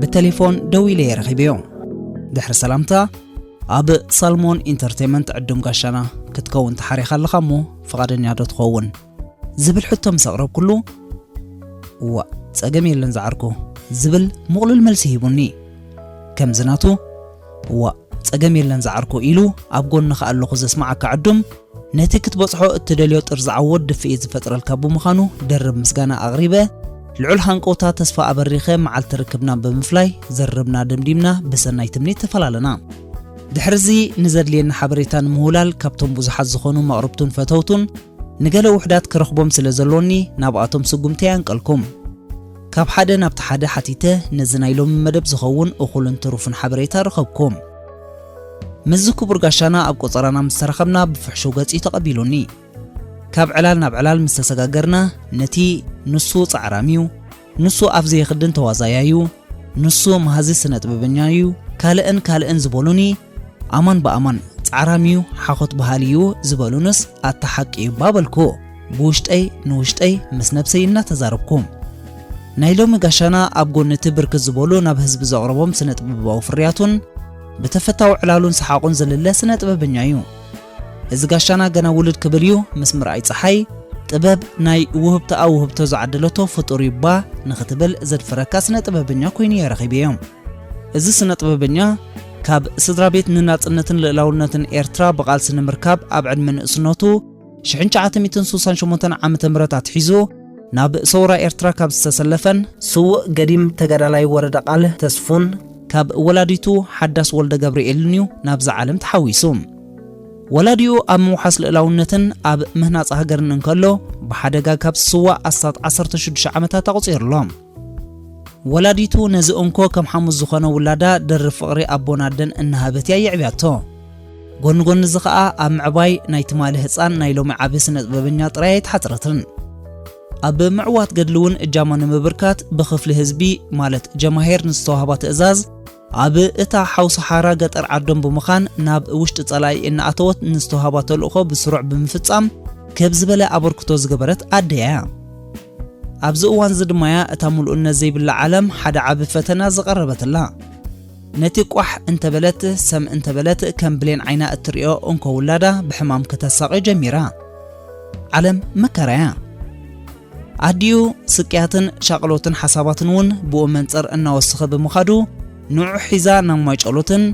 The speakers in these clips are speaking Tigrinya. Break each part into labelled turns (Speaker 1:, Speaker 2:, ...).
Speaker 1: ብተሌፎን ደው ኢለ የረኺበዮ ድሕሪ ሰላምታ ኣብ ሳልሞን ኢንተርቴንመንት ዕዱም ጋሻና ክትከውን ተሓሪኻ ኣለኻ እሞ ፍቓደኛ ዶ ትኸውን ዝብል ሕቶ ምስ ኣቕረብኩሉ እዋእ ጸገም የለን ዝዓርኩ ዝብል ምቕሉል መልሲ ሂቡኒ። ከምዚ ናቱ እዋእ ጸገም የለን ዝዓርኩ ኢሉ ኣብ ጎንኻ ኣለኹ ዘስምዓካ ዕዱም ነቲ ክትበጽሖ እትደልዮ ጥርዝዓዊ ወድ ድፍኢት ዝፈጥረልካ ብምዃኑ ደርብ ምስጋና ኣቕሪበ ልዑል ሃንቀውታ ተስፋ ኣበሪኸ መዓልቲ ርክብና ብምፍላይ ዘርብና ደምዲምና ብሰናይ ትምኒት ተፈላለና ድሕርዚ ንዘድልየኒ ሓበሬታ ንምውላል ካብቶም ብዙሓት ዝኾኑ መቕርብቱን ፈተውቱን ንገለ ውሑዳት ክረኽቦም ስለ ዘሎኒ ናብኣቶም ስጉምተይ ኣንቀልኩም። ካብ ሓደ ናብቲ ሓደ ሓቲተ ነዚ ናይ ሎሚ መደብ ዝኸውን እኹልን ትሩፍን ሓበሬታ ረኸብኩም። ምስዚ ክቡር ጋሻና ኣብ ቆጸራና ምስ ተራኸብና ብፍሕሹው ገጽ'ዩ ተቐቢሉኒ። ካብ ዕላል ናብ ዕላል ምስ ተሰጋገርና ነቲ ንሱ ጻዕራም'ዩ፣ ንሱ ኣብ ዘይኽድን ተዋዛያዩ ንሱ መሃዚ ስነጥበበኛዩ ካልእን ካልእን ዝበሉኒ ኣማን ብኣማን ጻዕራምዩ ሓኾት በሃሊዩ ዝበሉንስ ኣታ ሓቂዩባ በልኩ ብውሽጠይ ንውሽጠይ ምስ ነብሰይ እናተዛረብኩ። ናይ ሎሚ ጋሻና ኣብ ጎኒቲ ብርክት ዝበሉ ናብ ህዝቢ ዘቕረቦም ስነጥበባዊ ፍርያቱን ብተፈታዊ ዕላሉን ሰሓቑን ዝልለ ስነጥበበኛዩ። እዚ ጋሻና ገና ውልድ ክብል እዩ ምስ ምርኣይ ጸሓይ ጥበብ ናይ ውህብቶኣ ውህብቶ ዝዓደለቶ ፍጡር እዩ እባ ንኽትብል ዘድፍረካ ስነ ጥበበኛ ኮይኑ እየ ረኺበዮ። እዚ ስነ ጥበበኛ ካብ ስድራ ቤት ንናጽነትን ልእላውነትን ኤርትራ ብቓልሲ ንምርካብ ኣብ ዕድመ ንእስነቱ ሽሕን ትሽዓተ ሚእትን ስሳን ሸሞንተን ዓመተ ምህረት ኣትሒዙ ናብ ሰውራ ኤርትራ ካብ ዝተሰለፈን ስዉእ ገዲም ተጋዳላይ ወረደ ቃል ተስፉን ካብ ወላዲቱ ሓዳስ ወልደገብርኤልን እዩ ናብዛ ዓለም ተሓዊሱ። ወላዲኡ ኣብ ምውሓስ ልእላውነትን ኣብ ምህናጽ ሃገርን እንከሎ ብሓደጋ ካብ ዝስዋእ ኣስታት ዓሰርተ ሽዱሽተ ዓመታት ኣቑጺሩ ኣሎ። ወላዲቱ ነዚ እንኮ ከም ሓሙስ ዝኾነ ውላዳ ድርብ ፍቕሪ ኣቦን ኣደን እናሃበት እያ የዕብያቶ። ጎኒ ጎኒ እዚ ኸኣ ኣብ ምዕባይ ናይ ትማሊ ህጻን ናይ ሎሚ ዓቢ ስነጥበበኛ ጥራይ ኣይተሓጽረትን። ኣብ ምዕዋት ገድሊ እውን እጃማ ንምብርካት ብክፍሊ ህዝቢ ማለት ጀማሂር ንዝተዋህባ ትእዛዝ ኣብ እታ ሓውሲ ሓራ ገጠር ዓዶም ብምኻን ናብ ውሽጢ ጸላኢ እናኣተወት ንዝተውሃባ ተልእኾ ብስሩዕ ብምፍጻም ክብ ዝበለ ኣበርክቶ ዝገበረት ኣደ'ያ። ኣብዚ እዋን'ዚ ድማ'ያ እታ ምሉእነት ዘይብላ ዓለም ሓደ ዓቢ ፈተና ዝቐረበትላ። ነቲ ቋሕ እንተበለት ሰም እንተበለት ከም ብሌን ዓይና እትርእዮ እንኮ ውላዳ ብሕማም ክተሳቕዮ ጀሚራ። ዓለም መከራ'ያ። ኣዲኡ ስቅያትን ሻቕሎትን ሓሳባትን እውን ብኡ መንጽር እናወሰኸ ብምኻዱ ንዑ ሒዛ ናብ ማይጨሎትን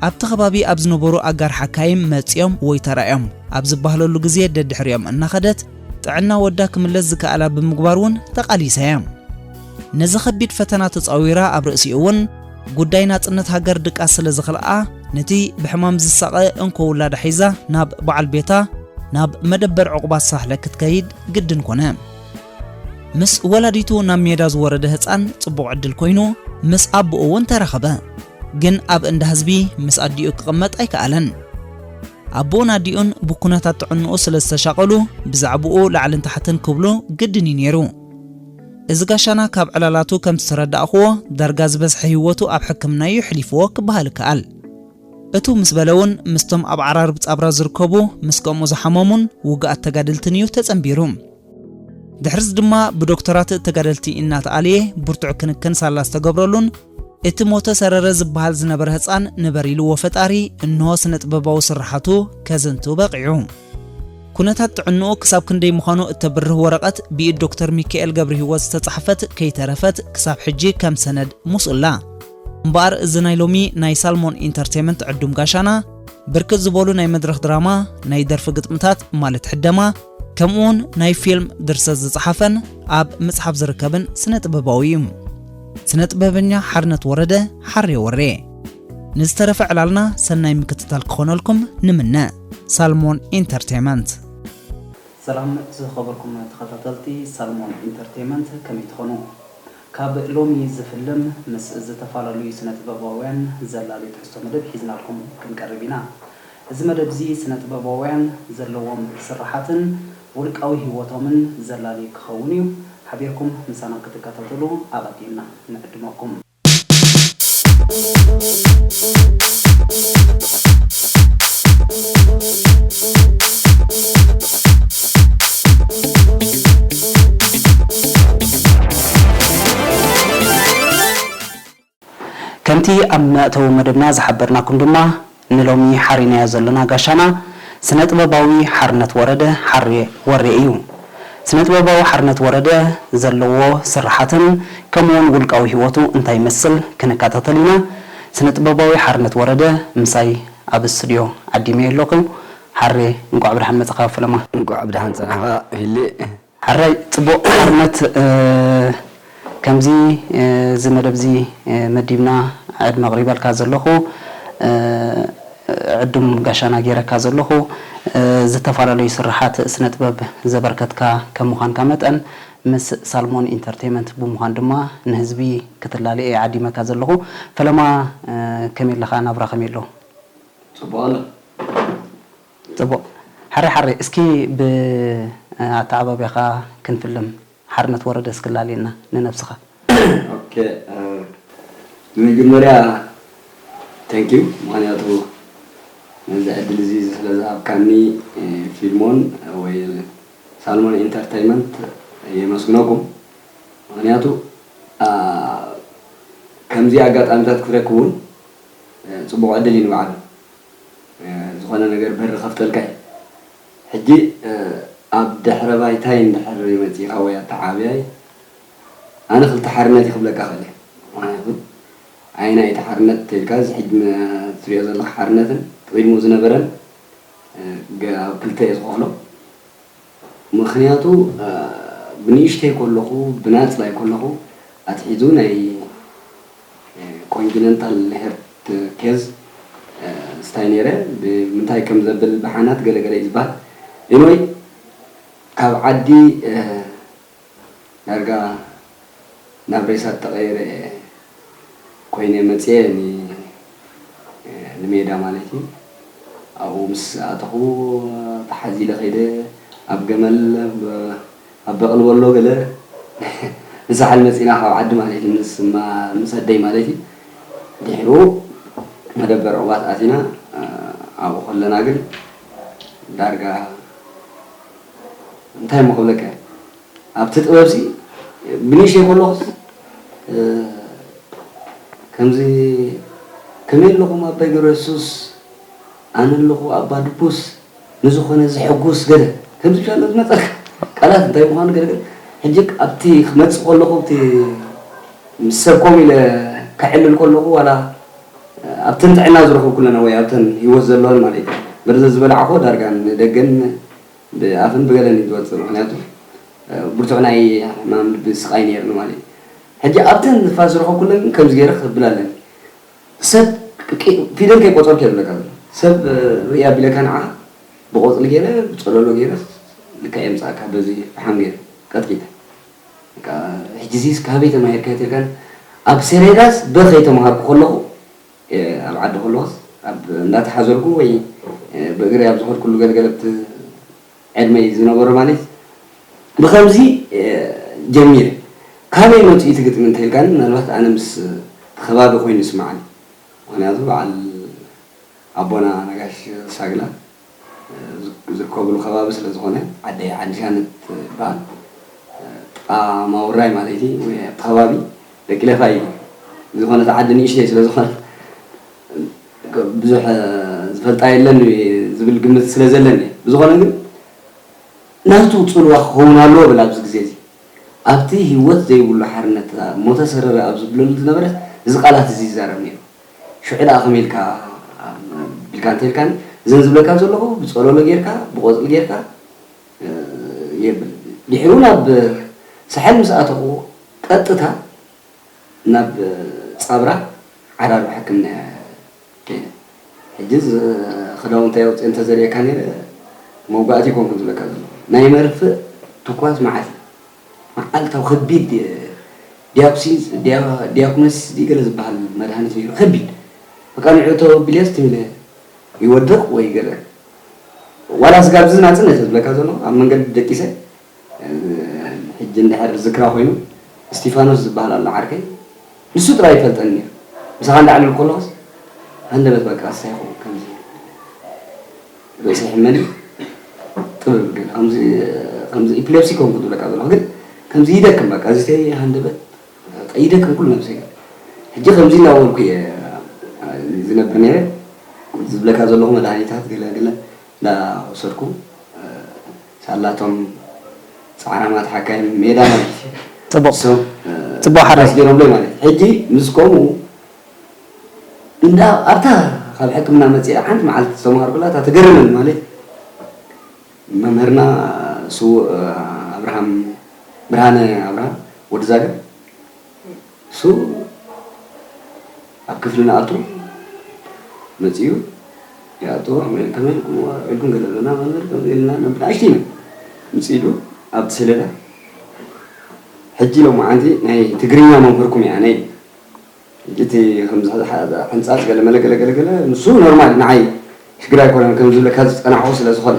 Speaker 1: ኣብቲ ከባቢ ኣብ ዝነበሩ ኣጋር ሓካይም መጺኦም ወይ ተራእዮም ኣብ ዝበሃለሉ ግዜ ደድሕሪኦም እናኸደት ጥዕና ወዳ ክምለስ ዝከኣላ ብምግባር እውን ተቓሊሳ እያ። ነዚ ከቢድ ፈተና ተጻዊራ ኣብ ርእሲኡ እውን ጉዳይ ናጽነት ሃገር ድቃስ ስለ ዝኸልኣ ነቲ ብሕማም ዝሳቐ እንኮ ውላዳ ሒዛ ናብ በዓል ቤታ ናብ መደበር ዕቑባት ሳሕለ ክትከይድ ግድን ኮነ። ምስ ወላዲቱ ናብ ሜዳ ዝወረደ ህፃን ፅቡቕ ዕድል ኮይኑ ምስ ኣቦኡ እውን ተራኸበ። ግን ኣብ እንዳ ህዝቢ ምስ ኣዲኡ ክቕመጥ ኣይከኣለን። ኣቦኡን ኣዲኡን ብኩነታት ጥዕንኡ ስለ ዝተሻቐሉ ብዛዕብኡ ላዕልን ታሕትን ክብሉ ግድን እዩ ነይሩ። እዚ ጋሻና ካብ ዕላላቱ ከም ዝተረዳእኽዎ ዳርጋ ዝበዝሐ ህይወቱ ኣብ ሕክምና እዩ ኣሕሊፍዎ ክበሃል ይከኣል። እትው ምስ በለ እውን ምስቶም ኣብ ዓራርብ ጻብራ ዝርከቡ ምስ ከምኡ ዝሓመሙን ውጉኣት ተጋደልትን እዩ ተጸንቢሩ። ድሕርዚ ድማ ብዶክተራት ተጋደልቲ እናተኣልየ ብርቱዕ ክንክን ሳላ ዝተገብረሉን እቲ ሞተ ሰረረ ዝበሃል ዝነበረ ህጻን ንበር ኢልዎ ፈጣሪ እንሆ ስነጥበባዊ ስርሓቱ ከዘንቱ በቒዑ። ኩነታት ጥዕንኡ ክሳብ ክንደይ ምዃኑ እተብርህ ወረቐት ብኢድ ዶክተር ሚካኤል ገብርሂወት ዝተጻሕፈት ከይተረፈት ክሳብ ሕጂ ከም ሰነድ ምስኡላ። እምበኣር እዚ ናይ ሎሚ ናይ ሳልሞን ኢንተርቴመንት ዕዱም ጋሻና ብርክት ዝበሉ ናይ መድረኽ ድራማ፣ ናይ ደርፊ ግጥምታት ማለት ሕደማ፣ ከምኡውን ናይ ፊልም ድርሰት ዝጸሓፈን ኣብ ምጽሓፍ ዝርከብን ስነ ጥበባዊ እዩ። ስነ ጥበበኛ ሓርነት ወረደ፣ ሓሬ ወሬ። ንዝተረፈ ዕላልና ሰናይ ምክትታል ክኾነልኩም ንምነ። ሳልሞን ኢንተርቴመንት። ሰላም ዝኸበርኩም ተኸታተልቲ ሳልሞን ኢንተርቴመንት ከመይ ትኾኑ? ካብ ሎሚ ዝፍልም ምስ ዝተፋላለዩ ስነጥበባውያን ዘላሊ ትሕዝቶ መደብ ሒዝናልኩም ክንቀርብ ኢና። እዚ መደብዚ ስነጥበባውያን ዘለዎም ስርሓትን ውልቃዊ ሂወቶምን ዘላሊ ክኸውን እዩ። ሓቢርኩም ምሳና ክትከታተሉ ኣቐዲምና ንዕድመኩም። ከምቲ ኣብ መእተዊ መደብና ዝሓበርናኩም ድማ ንሎሚ ሓሪናዮ ዘሎና ጋሻና ስነጥበባዊ ሓርነት ወረደ፣ ሓሬ ወሬ፣ እዩ። ስነጥበባዊ ሓርነት ወረደ ዘለዎ ስርሓትን ከምኡውን ውልቃዊ ህይወቱ እንታይ ይመስል ክንከታተል ኢና። ስነጥበባዊ ሓርነት ወረደ ምሳይ ኣብ ስቱድዮ ዓዲመዮ ኣለኹ። ሓሬ እንቋዕ ብድሓን መጻኻ ፈለማ። እንኳዕ ብደሓን ፀናሕኻ
Speaker 2: ፊሊ። ሓራይ
Speaker 1: ጽቡቅ ሓርነት ከምዚ እዚ መደብ እዚ መዲብና ዕድመ ኣቅሪበልካ ዘለኹ ዕዱም ጋሻና ጌረካ ዘለኹ ዝተፋላለዩ ስርሓት ስነ ጥበብ ዘበርከትካ ከም ምዃንካ መጠን ምስ ሳልሞን ኢንተርቴመንት ብምዃን ድማ ንህዝቢ ክትላለ እየ ዓዲመካ ዘለኹ ፈለማ ከመይ ኣለኻ ናብራ ከመይ ኣሎ ጽቡቅ ኣሎ ጽቡቅ ሓሬ ሓሬ እስኪ ብ ኣተኣባብያኻ ክንፍልም ሓርነት ወረደ እስኪ ላልየና ንነብስኻ። ኦኬ
Speaker 2: ብመጀመርያ Thank you ምክንያቱ ነዚ ዕድል እዚ ስለ ዝሃብካኒ ፊልሞን ወይ ሳልሞን ኢንተርተይመንት የመስግነኩም ምክንያቱ ከምዚ ኣጋጣሚታት ክረክብ ውን ጽቡቕ ዕድል እዩ ንባዕሉ ዝኾነ ነገር በሪ ከፍተልካ እዩ ሕጂ ኣብ ድሕረ ባይታይ እንድሕር መጺእኻ ወይ ኣተዓብያይ ኣነ ክልተ ሓርነት እዩ ክብለካ ክእል እየ ምክንያቱ ኣየናይ እቲ ሓርነት ተልካ እዚ ሕጂ ትሪኦ ዘለካ ሓርነትን ቅድሙ ዝነበረን ኣብ ክልተ እየ ዝኸፍሎ ምኽንያቱ ብንእሽተይ ኮለኹ ብናጽባይ ኮለኹ ኣትሒዙ ናይ ኮንጅነንታል ሄርት ኬዝ ስታይ ነይረ ብምንታይ ከም ዘብል ብሓናት ገለ ገለ እዩ ዝብሃል ኤኒወይ ካብ ዓዲ ዳርጋ ናብ ሬሳ ተቀይረ እየ ኮይነ መፅየ ንሜዳ ማለት እዩ ኣብኡ ምስ ኣተኹ ተሓዚለ ከይደ ኣብ ገመል ኣብ በቅሊ ወሎ ገለ ንሳሕል መፂና ካብ ዓዲ ማለት እዩ ምስ ኣደይ ማለት እዩ ድሕሩ መደበር ዕዋት ኣቲና ኣብኡ ከለና ግን ዳርጋ እንታይ እሞ ክብለካ እየ ኣብቲ ጥበብሲ ብንእሽተይ ከለኹስ ከምዚ ከመይ ኣለኹም ኣባይ ገብረየሱስ ኣነ ኣለኹ ኣባ ድቡስ ንዝኾነ ዝሕጉስ ገለ ከምዚ ብቻ ኣሎ ዝመፀልካ ቃላት እንታይ ምዃኑ ገለ ገለ ሕጂ ኣብቲ ክመፅእ ከለኹ እቲ ምስ ሰብ ኮም ኢለ ከዕልል ከለኹ ዋላ ኣብተን ጥዕና ዝረኸብኩለን ወይ ኣብተን ህይወት ዘለወን ማለት እዩ። መርዚ ዝበላዕክዎ ዳርጋ ንደገን ብኣፍን ብገለን እዩ ዝወጽእ ምኽንያቱ ብርቱዕ ናይ ሕማም ልቢ ስቓይ ነይርኒ ማለት እዩ። ሕጂ ኣብተን ንፋስ ዝረኸብኩለን ግን ከምዚ ገይረ ክብል ኣለኒ። ሰብ ፊደል ከይቆጸርኩ እየ ዝብለካ ዘለኹ። ሰብ ርእይ ኣቢለካ ንዓኻ ብቆጽሊ ገይረ ብጸለሎ ገይረ ልክዕ የምጽኣካ በዚ ፍሓም ገይረ ቀጥቂጠ። በቃ ሕጂ እዚስ ካበይ ተማሂርካዮ ተልካኒ ኣብ ሰሬዳስ በ ከይተማሃርኩ ከለኹ ኣብ ዓዲ ከለኹስ ኣብ እንዳተሓዘልኩ ወይ ብእግረይ ኣብ ዝኸድኩሉ ገልገለብቲ ዕድመይ ዝነበሮ ማለትስ ብኸምዚ ጀሚረ ካበይ መጽዩ እቲ ግጥሚ እንተልካኒ ምናልባት ኣነ ምስ እቲ ከባቢ ኮይኑ ይስማዓኒ ምኽንያቱ በዓል ኣቦና ነጋሽ ሳግላ ዝርከብሉ ከባቢ ስለ ዝኾነ ዓደይ ዓዲሳን እትበሃል ጥቃ ማውራይ ማለይቲ ወይ ኣብቲ ከባቢ ደቂ ለፋይ እዩ ዝኾነት ዓዲ ንእሽተይ ስለ ዝኾነት ብዙሕ ዝፈልጣ የለን ዝብል ግምት ስለ ዘለኒ እየ ብዝኾነ ግን ናቱ ጽልዋ ክኸውን ኣለዎ ብል ኣብዚ ግዜ እዚ ኣብቲ ሂወት ዘይብሉ ሓርነት ሞተ ሰረረ ኣብ ዝብለሉ ዝነበረ እዚ ቃላት እዚ ይዛረብ ነይሩ። ሽዑ ደኣ ከምይ ኢልካ ኢልካ እንተልካኒ እዘን ዝብለካ ዘለኹ ብጸሎሎ ጌርካ ብቆጽሊ ጌርካ የብል ድሒሩ ውን ኣብ ሳሕል ምስ ኣተኹ ቀጥታ ናብ ጻብራ ዓራርብ ሕክምና እየ ከይደ ሕጂ ክዳውንተይ ኣውጽኤ እንተ ዘርእየካ ኔረ መውጋእቲ ኣይኮንኩን ዝብለካ ዘለኹ ናይ መርፍእ ትኳስ መዓት እዩ መዓልታዊ ከቢድ ዲያኩሲንስ፣ ዲያኩነሲስ ድዩ ገለ ዝበሃል መድሃኒት ነይሩ ከቢድ በቃ ንዑ ተወብልዮ ስትብለ ይወድቕ ወይ ገለ ዋላ ስጋብ እዚ ናጽነት እየ ዝብለካ ዘለኹ ኣብ መንገዲ ደቂሰ ሕጂ እንድሕር ዝክራ ኮይኑ እስቲፋኖስ ዝበሃል ኣሎ ዓርከይ ንሱ ጥራይ ይፈልጠኒ ነይሩ ምሳኻ እንዳዕለልኩ ከለኹስ ሃንደበት በቃ ሳይኹ ከምዚ ርእሰይ ሕመኒ ጥብብ ግን ከምዚ ከምዚ ኢፕሌፕሲ ኮንኩ ዝብለካ ዘለኹ ግን ከምዚ ይደክም በቃ እዚተይ ሃንደበት በቃ ይደክም ኩሉ ነብሰይ ሕጂ ከምዚ እናበልኩ እየ ዝነብር ነይረ ዝብለካ ዘለኹ መድሃኒታት ገለ ገለ እናወሰድኩ ሳላቶም ጻዕራማት ሓካይም ሜዳ ማለት እዩ ጽቡቅ ጽቡቅ
Speaker 1: ሓራይ ገይሮምለይ ማለት ሕጂ
Speaker 2: ምስ ከምኡ እንዳ ኣብታ ካብ ሕክምና መጺኣ ሓንቲ መዓልቲ ዝተማሃርኩላ እታ ትገርመኒ ማለት መምህርና ስዉእ ኣብርሃም ብርሃነ ኣብርሃም ወዲ ዛግር እሱ ኣብ ክፍሊ ንኣቱ መጺኡ ይኣቶ ከመይ ከመይ ኢልኩም ዋዒልኩም ገለ ብለና መምህር ከምዚ ኢልና ነብላ ኣሽቲና ምጽ ኢሉ ኣብቲ ሰሌዳ ሕጂ ሎማዓንቲ ናይ ትግርኛ መምህርኩም እያ ነይ ሕጂ እቲ ከም ሕንጻጽ ገለ መለ ገለ ገለ ገለ ንሱ ኖርማል ንዓይ ሽግር ኣይኮነን ከም ዝብለካ ዝጸናሕኩ ስለ ዝኾነ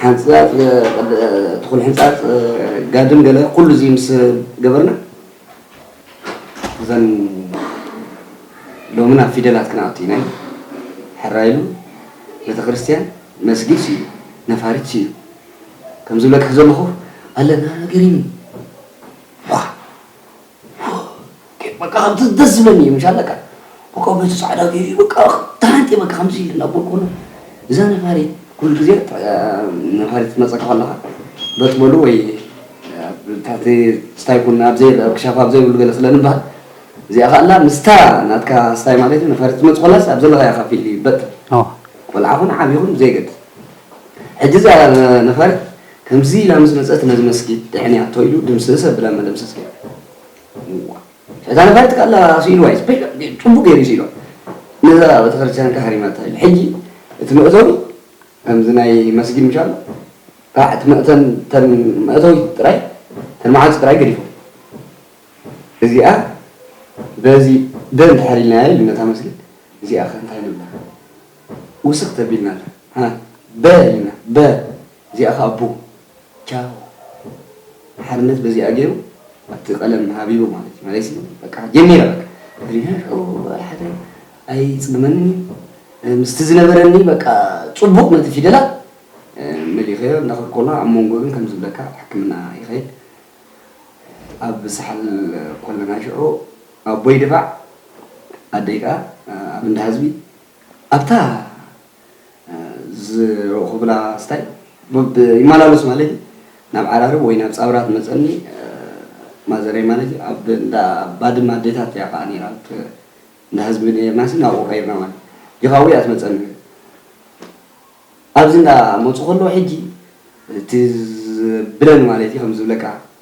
Speaker 2: ሓንጻጽ ትኹን ሕንጻጽ ጋድም ገለ ኩሉ እዚ ምስ ገበርና እዘን ሎሚ ናብ ፊደላት ክንኣቱ ኢና ሕራይ ኢሉ ቤተክርስትያን መስጊድ ስዩ ነፋሪት ስዩ ከም ዝብለካ ዘለኹ ኣለና ገሪሚ በቃ ከምቲ ደስ ዝብለኒ እዩ ምሻ በቃ በቃ በቲ ፃዕዳ ገይሩ በቃ ተሃንጤ በቃ ከምዚ ኢለ እናበልኩ ከሎ እዛ ነፋሪት ኩሉ ግዜ ነፋሪት ትመፀካ ከለካ በቲ በሉ ወይ ታቲ ስታይ ኩን ኣብ ዘይ ክሻፍ ኣብ ዘይብሉ ገለ ስለ ንባሃል እዚኣ ከኣላ ምስታ ናትካ ስታይ ማለት እዩ ነፋሪት ትመፅ ከላስ ኣብ ዘለካያ ካብ ፊልድ ይበጥ ቆልዓ ኹን ዓብዪ ኹን ዘይገድስ ሕጂ እዛ ነፋሪት ከምዚ ኢላ ምስ መጸት ነዚ መስጊድ ድሕንያቶ ኢሉ ድምስስ ኣብላ መደምሰስ ገይሩ እዋእ ሕታ ነፋሪት ካላ ስኢልዋ እዩ ጽቡቅ ገይሩ እዩ ስኢልዋ ነዛ ቤተክርስትያን ከ ሃሪማታ ኢሉ ሕጂ እቲ መእተዊ ከምዚ ናይ መስጊድ ምሽ ኣሎ ካዕ እቲ መእተን ተን መእተዊ ጥራይ ተን መዓልቲ ጥራይ ገዲፎም እዚኣ በዚ ደ እንድሕር ኢልናያ ኢሉ ነታ መስጊድ እዚኣ ከ እንታይ ንብላ ውስክ ተቢልና ኣላ ሃ በ ኢልና በ እዚኣ ከኣ ቡም ቻው ሓርነት በዚኣ ጌሩ ኣብቲ ቀለም ሃቢቡ ማለት እዩ መለይሲ በቃ ጀሚረ በቃ ሕሊናይ ሽዑ ዋላ ሓደ ኣይጽግመንን እዩ ምስቲ ዝነበረኒ በቃ ጽቡቕ ነቲ ፊደላት መሊኸዮ እንዳኸድኩ ከሎ ኣብ መንጎ ግን ከም ዝብለካ ሕክምና ይኸይድ ኣብ ሳሕል ኮለና ሽዑ ኣቦይ ድፋዕ ኣደይ ከኣ ኣብ እንዳ ህዝቢ ኣብታ ዝረእኹ ክብላ ስታይ ብ ይመላለሱ ማለት እዩ ናብ ዓራርብ ወይ ናብ ጻውራ ትመጸኒ ማዘረይ ማለት እዩ ኣብ እንዳ ባድመ ኣዴታት እያ ከዓ ነይራ ኣብቲ እንዳ ህዝቢ ነርናሲ ናብኡ ቀይርና ማለት ዲኻዊ እያ ትመጸኒ ኣብዚ እንዳ መጹ ከለዉ ሕጂ እቲ ብለን ማለት እዩ ከም ዝብለካ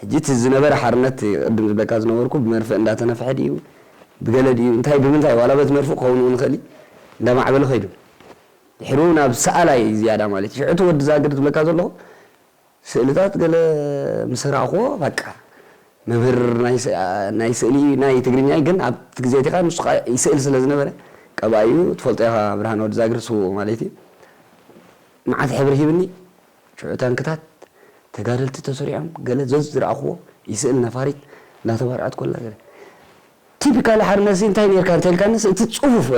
Speaker 2: ሕጂ እቲ ዝነበረ ሓርነት እቲ ቅድም ዝብለካ ዝነበርኩ ብመርፍእ እንዳተነፍሐ ድዩ ብገለ ድዩ እንታይ ብምንታይ ዋላ በቲ መርፍእ ክኸውን እውን ይኽእል እዩ እንዳማዕበለ ከይዱ ድሕሩ ናብ ሰኣላይ ዝያዳ ማለት እዩ ሽዑ እቲ ወዲ ዛግር ዝብለካ ዘለኹ ስእልታት ገለ ምስ ረኣኽዎ በቃ መምህር ናይ ስእሊ እዩ ናይ ትግርኛ እዩ ግን ኣብቲ ግዜ እቲ ከኣ ንሱ ከኣ ይስእል ስለ ዝነበረ ቀባኢ እዩ ትፈልጦ ኢኻ ብርሃነ ወዲ ዛግር ስዉእ ማለት እዩ መዓት ሕብሪ ሂብኒ ሽዑ ታንክታት ተጋደልቲ ተሰሪዖም ገለ ዞዝ ዝረኣኹዎ ይስእል ነፋሪት እንዳተባርዐት ኮላ ገለ ቲፒካል ሓርነትሲ እንታይ ኔርካ እንተልካንስ እቲ ጽፉፍ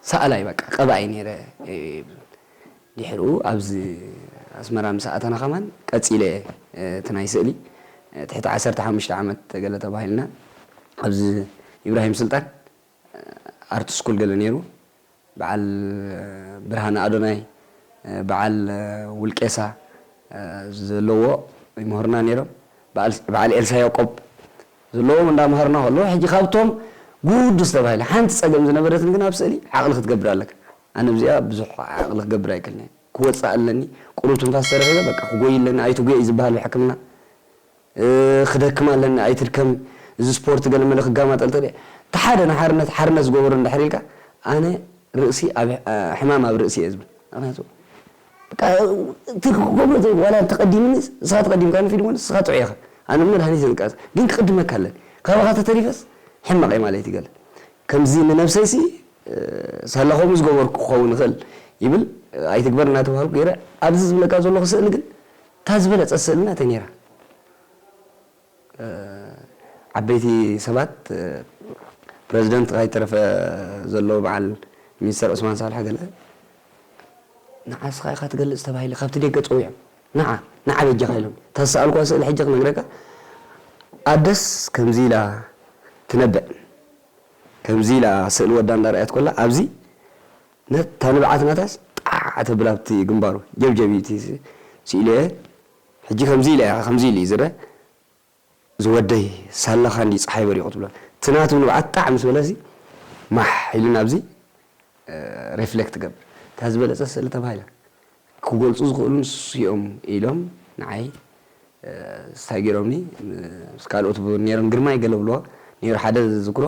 Speaker 2: ሰኣላይ በቃ ቀባኢ ኔረ ይብል ድሕሩ ኣብዚ ኣስመራ ምስ ኣተና ከማን ቀጺለ እቲ ናይ ስእሊ ትሕቲ ዓሰርተ ሓሙሽተ ዓመት ገለ ተባሂልና ኣብዚ ኢብራሂም ስልጣን ኣርት ስኩል ገለ ኔሩ በዓል ብርሃነ ኣዶናይ በዓል ውልቄሳ ዘለዎ ይምህሩና ኔሮም በዓል ኤልሳ ያቆብ ዘለዎም እንዳ መሃሩና ከለዉ ሕጂ ካብቶም ጉዱስ ተባሂለ ሓንቲ ጸገም ዝነበረትኒ ግን ኣብ ስእሊ ዓቅሊ ክትገብር ኣለካ ኣነ ብዚኣ ብዙሕ ዓቅሊ ክገብር ኣይክእልን እየ ክወጽእ ኣለኒ ቁሩብ ትንፋስ ተረኪበ በቃ ክጎይ ኣለኒ ኣይትጉየይ ዝብሃል ብሕክምና ክደክም ኣለኒ ኣይትድከሚ እዚ ስፖርት ገለመለ ክጋማጠል ተደይ እቲ ሓደ ንሓርነት ሓርነት ዝገበሮ እንድሕር ኢልካ ኣነ ርእሲ ኣብ ሕማም ኣብ ርእሲ እየ ዝብል ምክንያቱ በቃ እቲ ክገብሮ ዘይ ዋላ እንተቀዲምኒስ ንስካ ተቀዲምካኒ ፊልሞን ንስካ ጥዑይ ኢካ ኣነ መድሃኒት እየ ዝቃለስ ግን ክቅድመካ ኣለኒ ካባካ ተተሪፈስ ሕማቅ እየ ማለይቲ ገለ ከምዚ ንነብሰይሲ ሳላ ከምኡ ዝገበርኩ ክከውን ይክእል ይብል ኣይትግበር እናተባሃልኩ ገይረ ኣብዚ ዝብለካ ዘለኩ ስእሊ ግን እታ ዝበለጸት ስእሊ ናተይ ነይራ። ዓበይቲ ሰባት ፕረዚደንት ካይተረፈ ዘሎ በዓል ሚኒስተር ዑስማን ሳልሕ ገለ ንዓ እስኻ ኢኻ ትገልጽ ተባሂለ ካብቲ ደገ ጸዊዖም ንዓ ንዓ በጃኻ ኢሎምኒ እታ ዝሰኣልኩዋ ስእሊ ሕጂ ክነግረካ ኣደስ ከምዚ ኢላ ትነብዕ ከምዚ ኢላ ስእሊ ወዳ እንዳርኣየት ኮላ ኣብዚ ነታ ንብዓት ናታስ ጣዕ ተብል ኣብቲ ግንባሩ ጀብጀቢቲ ስኢለዮ ሕጂ ከምዚ ኢላ ኢካ ከምዚ ኢሉ እዩ ዝረ ዝወደይ ሳላካ እንድዩ ጸሓይ በሪቁ ትብሎ እቲ ናቱ ንብዓት ጣዕ ምስ በለሲ ማሕ ኢሉ ናብዚ ሬፍለክት ገብር እታ ዝበለጸት ስእሊ ተባሂላ ክገልጹ ዝክእሉ ንሱ እዮም ኢሎም ንዓይ ስታይ ጌሮምኒ ምስ ካልኦት ብ ኔሮም ግርማይ ገለብልዋ ኔሩ ሓደ ዝዝክሮ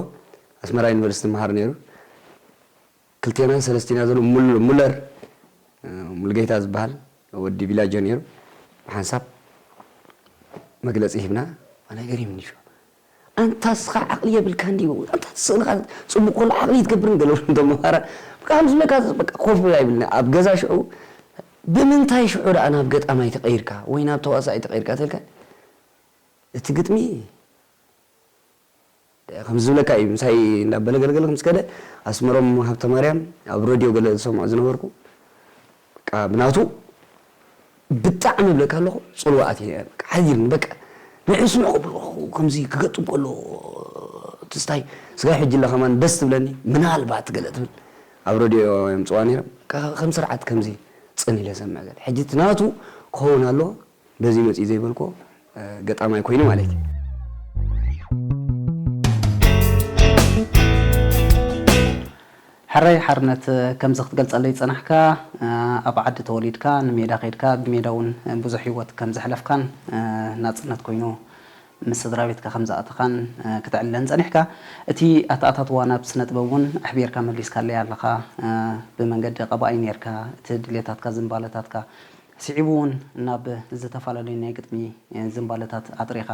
Speaker 2: ኣስመራ ዩኒቨርሲቲ ይመሃር ኔሩ። ክልቴናን ሰለስቴና ዘሎ ሙል ሙለር ሙሉጌታ ዝበሃል ወዲ ቢላጆ ነይሩ ብሓንሳብ መግለጺ ሂብና ኣነ ገሪሙኒ እዩ ኣንታ እስኻ ዓቕሊ የብልካን ድዩ ኣንታ ስእልኻ ጽቡቕ ከሎ ዓቕሊ ይትገብርን ገለ እንቶም መሃራ በቃ ከም ዝብለካ በቃ ኮፍ ብላ ይብልና ኣብ ገዛ ሽዑ ብምንታይ ሽዑ ደኣ ናብ ገጣማይ ተቐይርካ ወይ ናብ ተዋሳኣይ ተቐይርካ ተልካ እቲ ግጥሚ ከምዚ ዝብለካ እዩ ምሳይ እንዳበለ ገለ ገለ ምስ ከደ ኣስመሮም ሃብተማርያም ኣብ ረድዮ ገለ ዝሰምዖ ዝነበርኩ በቃ ብናቱ ብጣዕሚ እብለካ ኣለኹ ጽልዋ ኣትየ በቃ ሓዚልኒ በቃ ንዑ ስምዑ ክብለኹ ከምዚ ክገጥም ከሎ ትዝታይ ስጋብ ሕጂ እለ ከማን ደስ ትብለኒ ምናልባት ገለ ትብል ኣብ ረድዮ የምጽዋ ነይሮም ከም ስርዓት ከምዚ ጽን ኢለ ሰምዕ ገለ ሕጂ እቲ ናቱ ክኸውን ኣለዎ በዚ መጺኡ ዘይበልክዎ ገጣማይ ኮይኑ ማለት እዩ።
Speaker 1: ሕራይ ሓርነት ከምዚ ክትገልጸለይ ዝጸናሕካ ኣብ ዓዲ ተወሊድካ ንሜዳ ከይድካ ብሜዳ ውን ብዙሕ ሂወት ከም ዘሕለፍካን ናጽነት ኮይኑ ምስ ስድራቤትካ ከም ዝኣተኻን ክትዕልለኒ ጸኒሕካ እቲ ኣተኣታትዋ ናብ ስነጥበብ ውን ኣሕቢርካ መሊስካለይ ኣለኻ ብመንገዲ ቀባኣይ ኔርካ እቲ ድሌታትካ ዝንባለታትካ ስዒቡ እውን ናብ ዝተፈላለዩ ናይ ግጥሚ ዝንባለታት ኣጥሪኻ።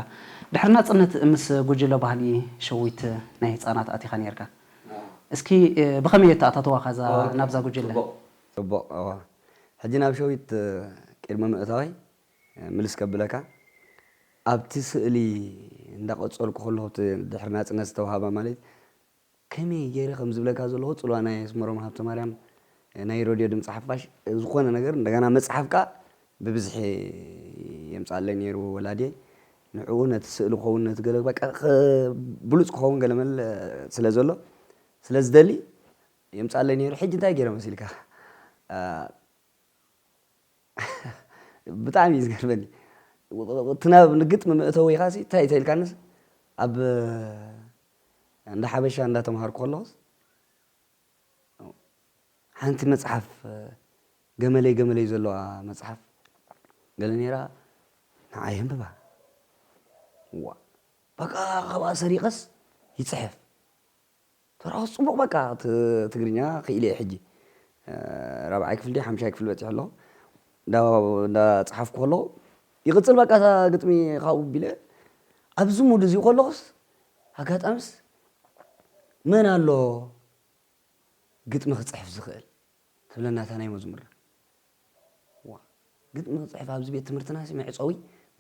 Speaker 1: ድሕሪ ናጽነት ምስ ጉጅለ ባህሊ ሸዊት ናይ ህጻናት ኣቲኻ ነይርካ። እስኪ ብኸመይ ኣተኣታትዋኻ ናብዛ ጉጅለ? ጽቡቕ እወ።
Speaker 2: ሕጂ ናብ ሸዊት ቅድሚ ምእታወይ ምልስ ከብለካ፣ ኣብቲ ስእሊ እንዳቐጸልኩ ከለኹ እቲ ድሕሪ ናጽነት ዝተውሃባ ማለት ከመይ ጌረ ከም ዝብለካ ዘለኹ ጽልዋ ናይ ኣስመሮም ሃብተማርያም ናይ ረድዮ ድምጺ ሓፋሽ ዝኾነ ነገር እንደገና መጽሓፍ ከኣ ብብዝሒ የምጽኣለይ ኔሩ ወላድየይ ንዕኡ ነቲ ስእሊ ክኸውን ነቲ ገለ በቃ ብሉጽ ክኸውን ገለመለ ስለ ዘሎ ስለ ዝደሊ የምጽኣለይ ኔሩ ሕጂ እንታይ ጌረ መሲልካ ብጣዕሚ እዩ ዝገርመኒ እቲ ናብ ንግጥሚ መእተዊኻሲ እንታይ እንተኢልካንስ ኣብ እንዳ ሓበሻ እንዳ ተምሃርኩ ከለኹስ ሓንቲ መጽሓፍ ገመለይ ገመለይ ዘለዋ መጽሓፍ ገለ ነይራ ንዓይ የንብባ ዋ በቃ ካብኣ ሰሪቐስ ይጽሕፍ ተራኹ ጽቡቕ በቃ ትግርኛ ክኢለ እየ ሕጂ ራብዓይ ክፍሊ ድዩ ሓምሻይ ክፍሊ በጺሑ ኣለኹ እንዳጸሓፍኩ ከለኹ ይቕጽል በቃ እታ ግጥሚ ካብኡ ቢለ ኣብዚ ሙድ እዚ ከለኹስ ኣጋጣምስ መን ኣሎ ግጥሚ ክጽሕፍ ዝኽእል ትብለና እታ ናይ መዝሙርና ዋ ግጥሚ ክጽሕፍ ኣብዚ ቤት ትምህርትና ሲ መዕጸዊ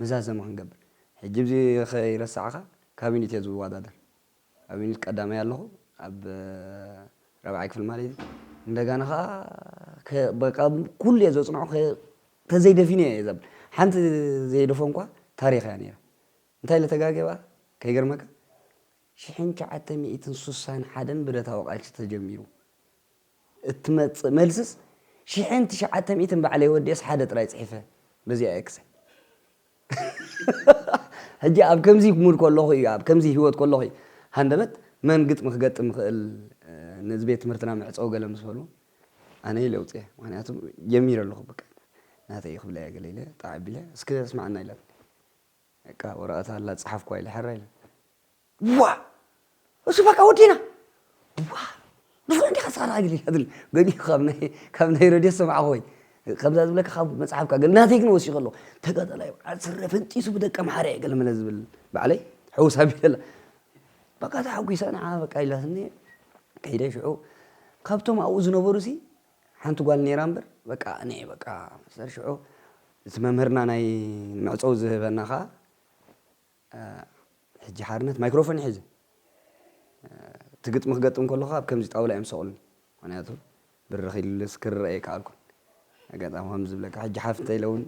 Speaker 2: መዛዘሚ ክንገብር ሕጂ ብዚ ከይረሳዕካ ካቢኒት እየ ዝወዳደር ካቢኒት ቀዳማይ ኣለኹ ኣብ ራብዓይ ክፍሊ ማለት እዩ እንደጋና ከዓ በቃ ኩሉ እየ ዘጽንዖ ተዘይደፊነ እየ ዘብል ሓንቲ ዘይደፈንኳ ታሪኽ እያ ነይራ እንታይ ኢለ ተጋግየ ባእ ከይገርመካ ሽሕን ትሽዓተ ሚእትን ሱሳን ሓደን ብረታዊ ቃልሲ ተጀሚሩ እትመጽእ መልስስ ሽሕን ትሽዓተ ሚእትን ባዕለይ ወዲኤስ ሓደ ጥራይ ጽሒፈ በዚኣ እየ ክሰ ሕጂ ኣብ ከምዚ ሙድ ከለኹ እዩ ኣብ ከምዚ ሂወት ከለኹ እዩ ሃንደበት መን ግጥሚ ክገጥም ይኽእል ነዚ ቤት ትምህርትና ምዕጸው ገለ ምስ በሉ ኣነ ኢለ ኣውጽኤ ምኽንያቱ ጀሚረ ኣለኹ በቃ ናተይ እዩ ክብላ እየ ገለ ኢለ ጣዕ ኣቢለ እስከ ስምዓና ኢላትኒ በቃ ወረቐት ኣላ ጸሓፍኳ ኢለ ሕራይ ኢለ ዋእ እሱ በቃ ወዲና ዋእ ንሱ እንዲኻ ስኻ ራጊል ኢላ ትብል ገዲኡ ካብ ናይ ካብ ናይ ረድዮ ሰማዕኹ ወይ ከምዛ ዝብለካ ካብ መጽሓፍ ካብ ገለ ናተይ ግን ወሲኹ ኣለኹ ተጋዳላይ በዓል ስረ ፈንጢሱ ብደቂ ኣምሓረ እየ ገለመለ ዝብል ባዕለይ ሕውስ ኣቢለላ በቃ ተሓጒሰ ንዓ በቃ ኢላትኒ ከይደ ሽዑ ካብቶም ኣብኡ ዝነበሩ ሲ ሓንቲ ጓል ኔራ እምበር በቃ ኣነ እየ በቃ መሰል ሽዑ እቲ መምህርና ናይ መዕጸዊ ዝህበና ከኣ ሕጂ ሓርነት ማይክሮፎን እዩ ሒዙ እቲ ግጥሚ ክገጥም ከለኹ ኣብ ከምዚ ጣውላ እዮም ዝሰቕሉኒ ምክንያቱ ብርኽ ኢሉስ ክርእ ኣይከኣልኩን ኣጋጣሚ ከም ዝብለካ ሕጂ ሓፍ እንተኢለ እውን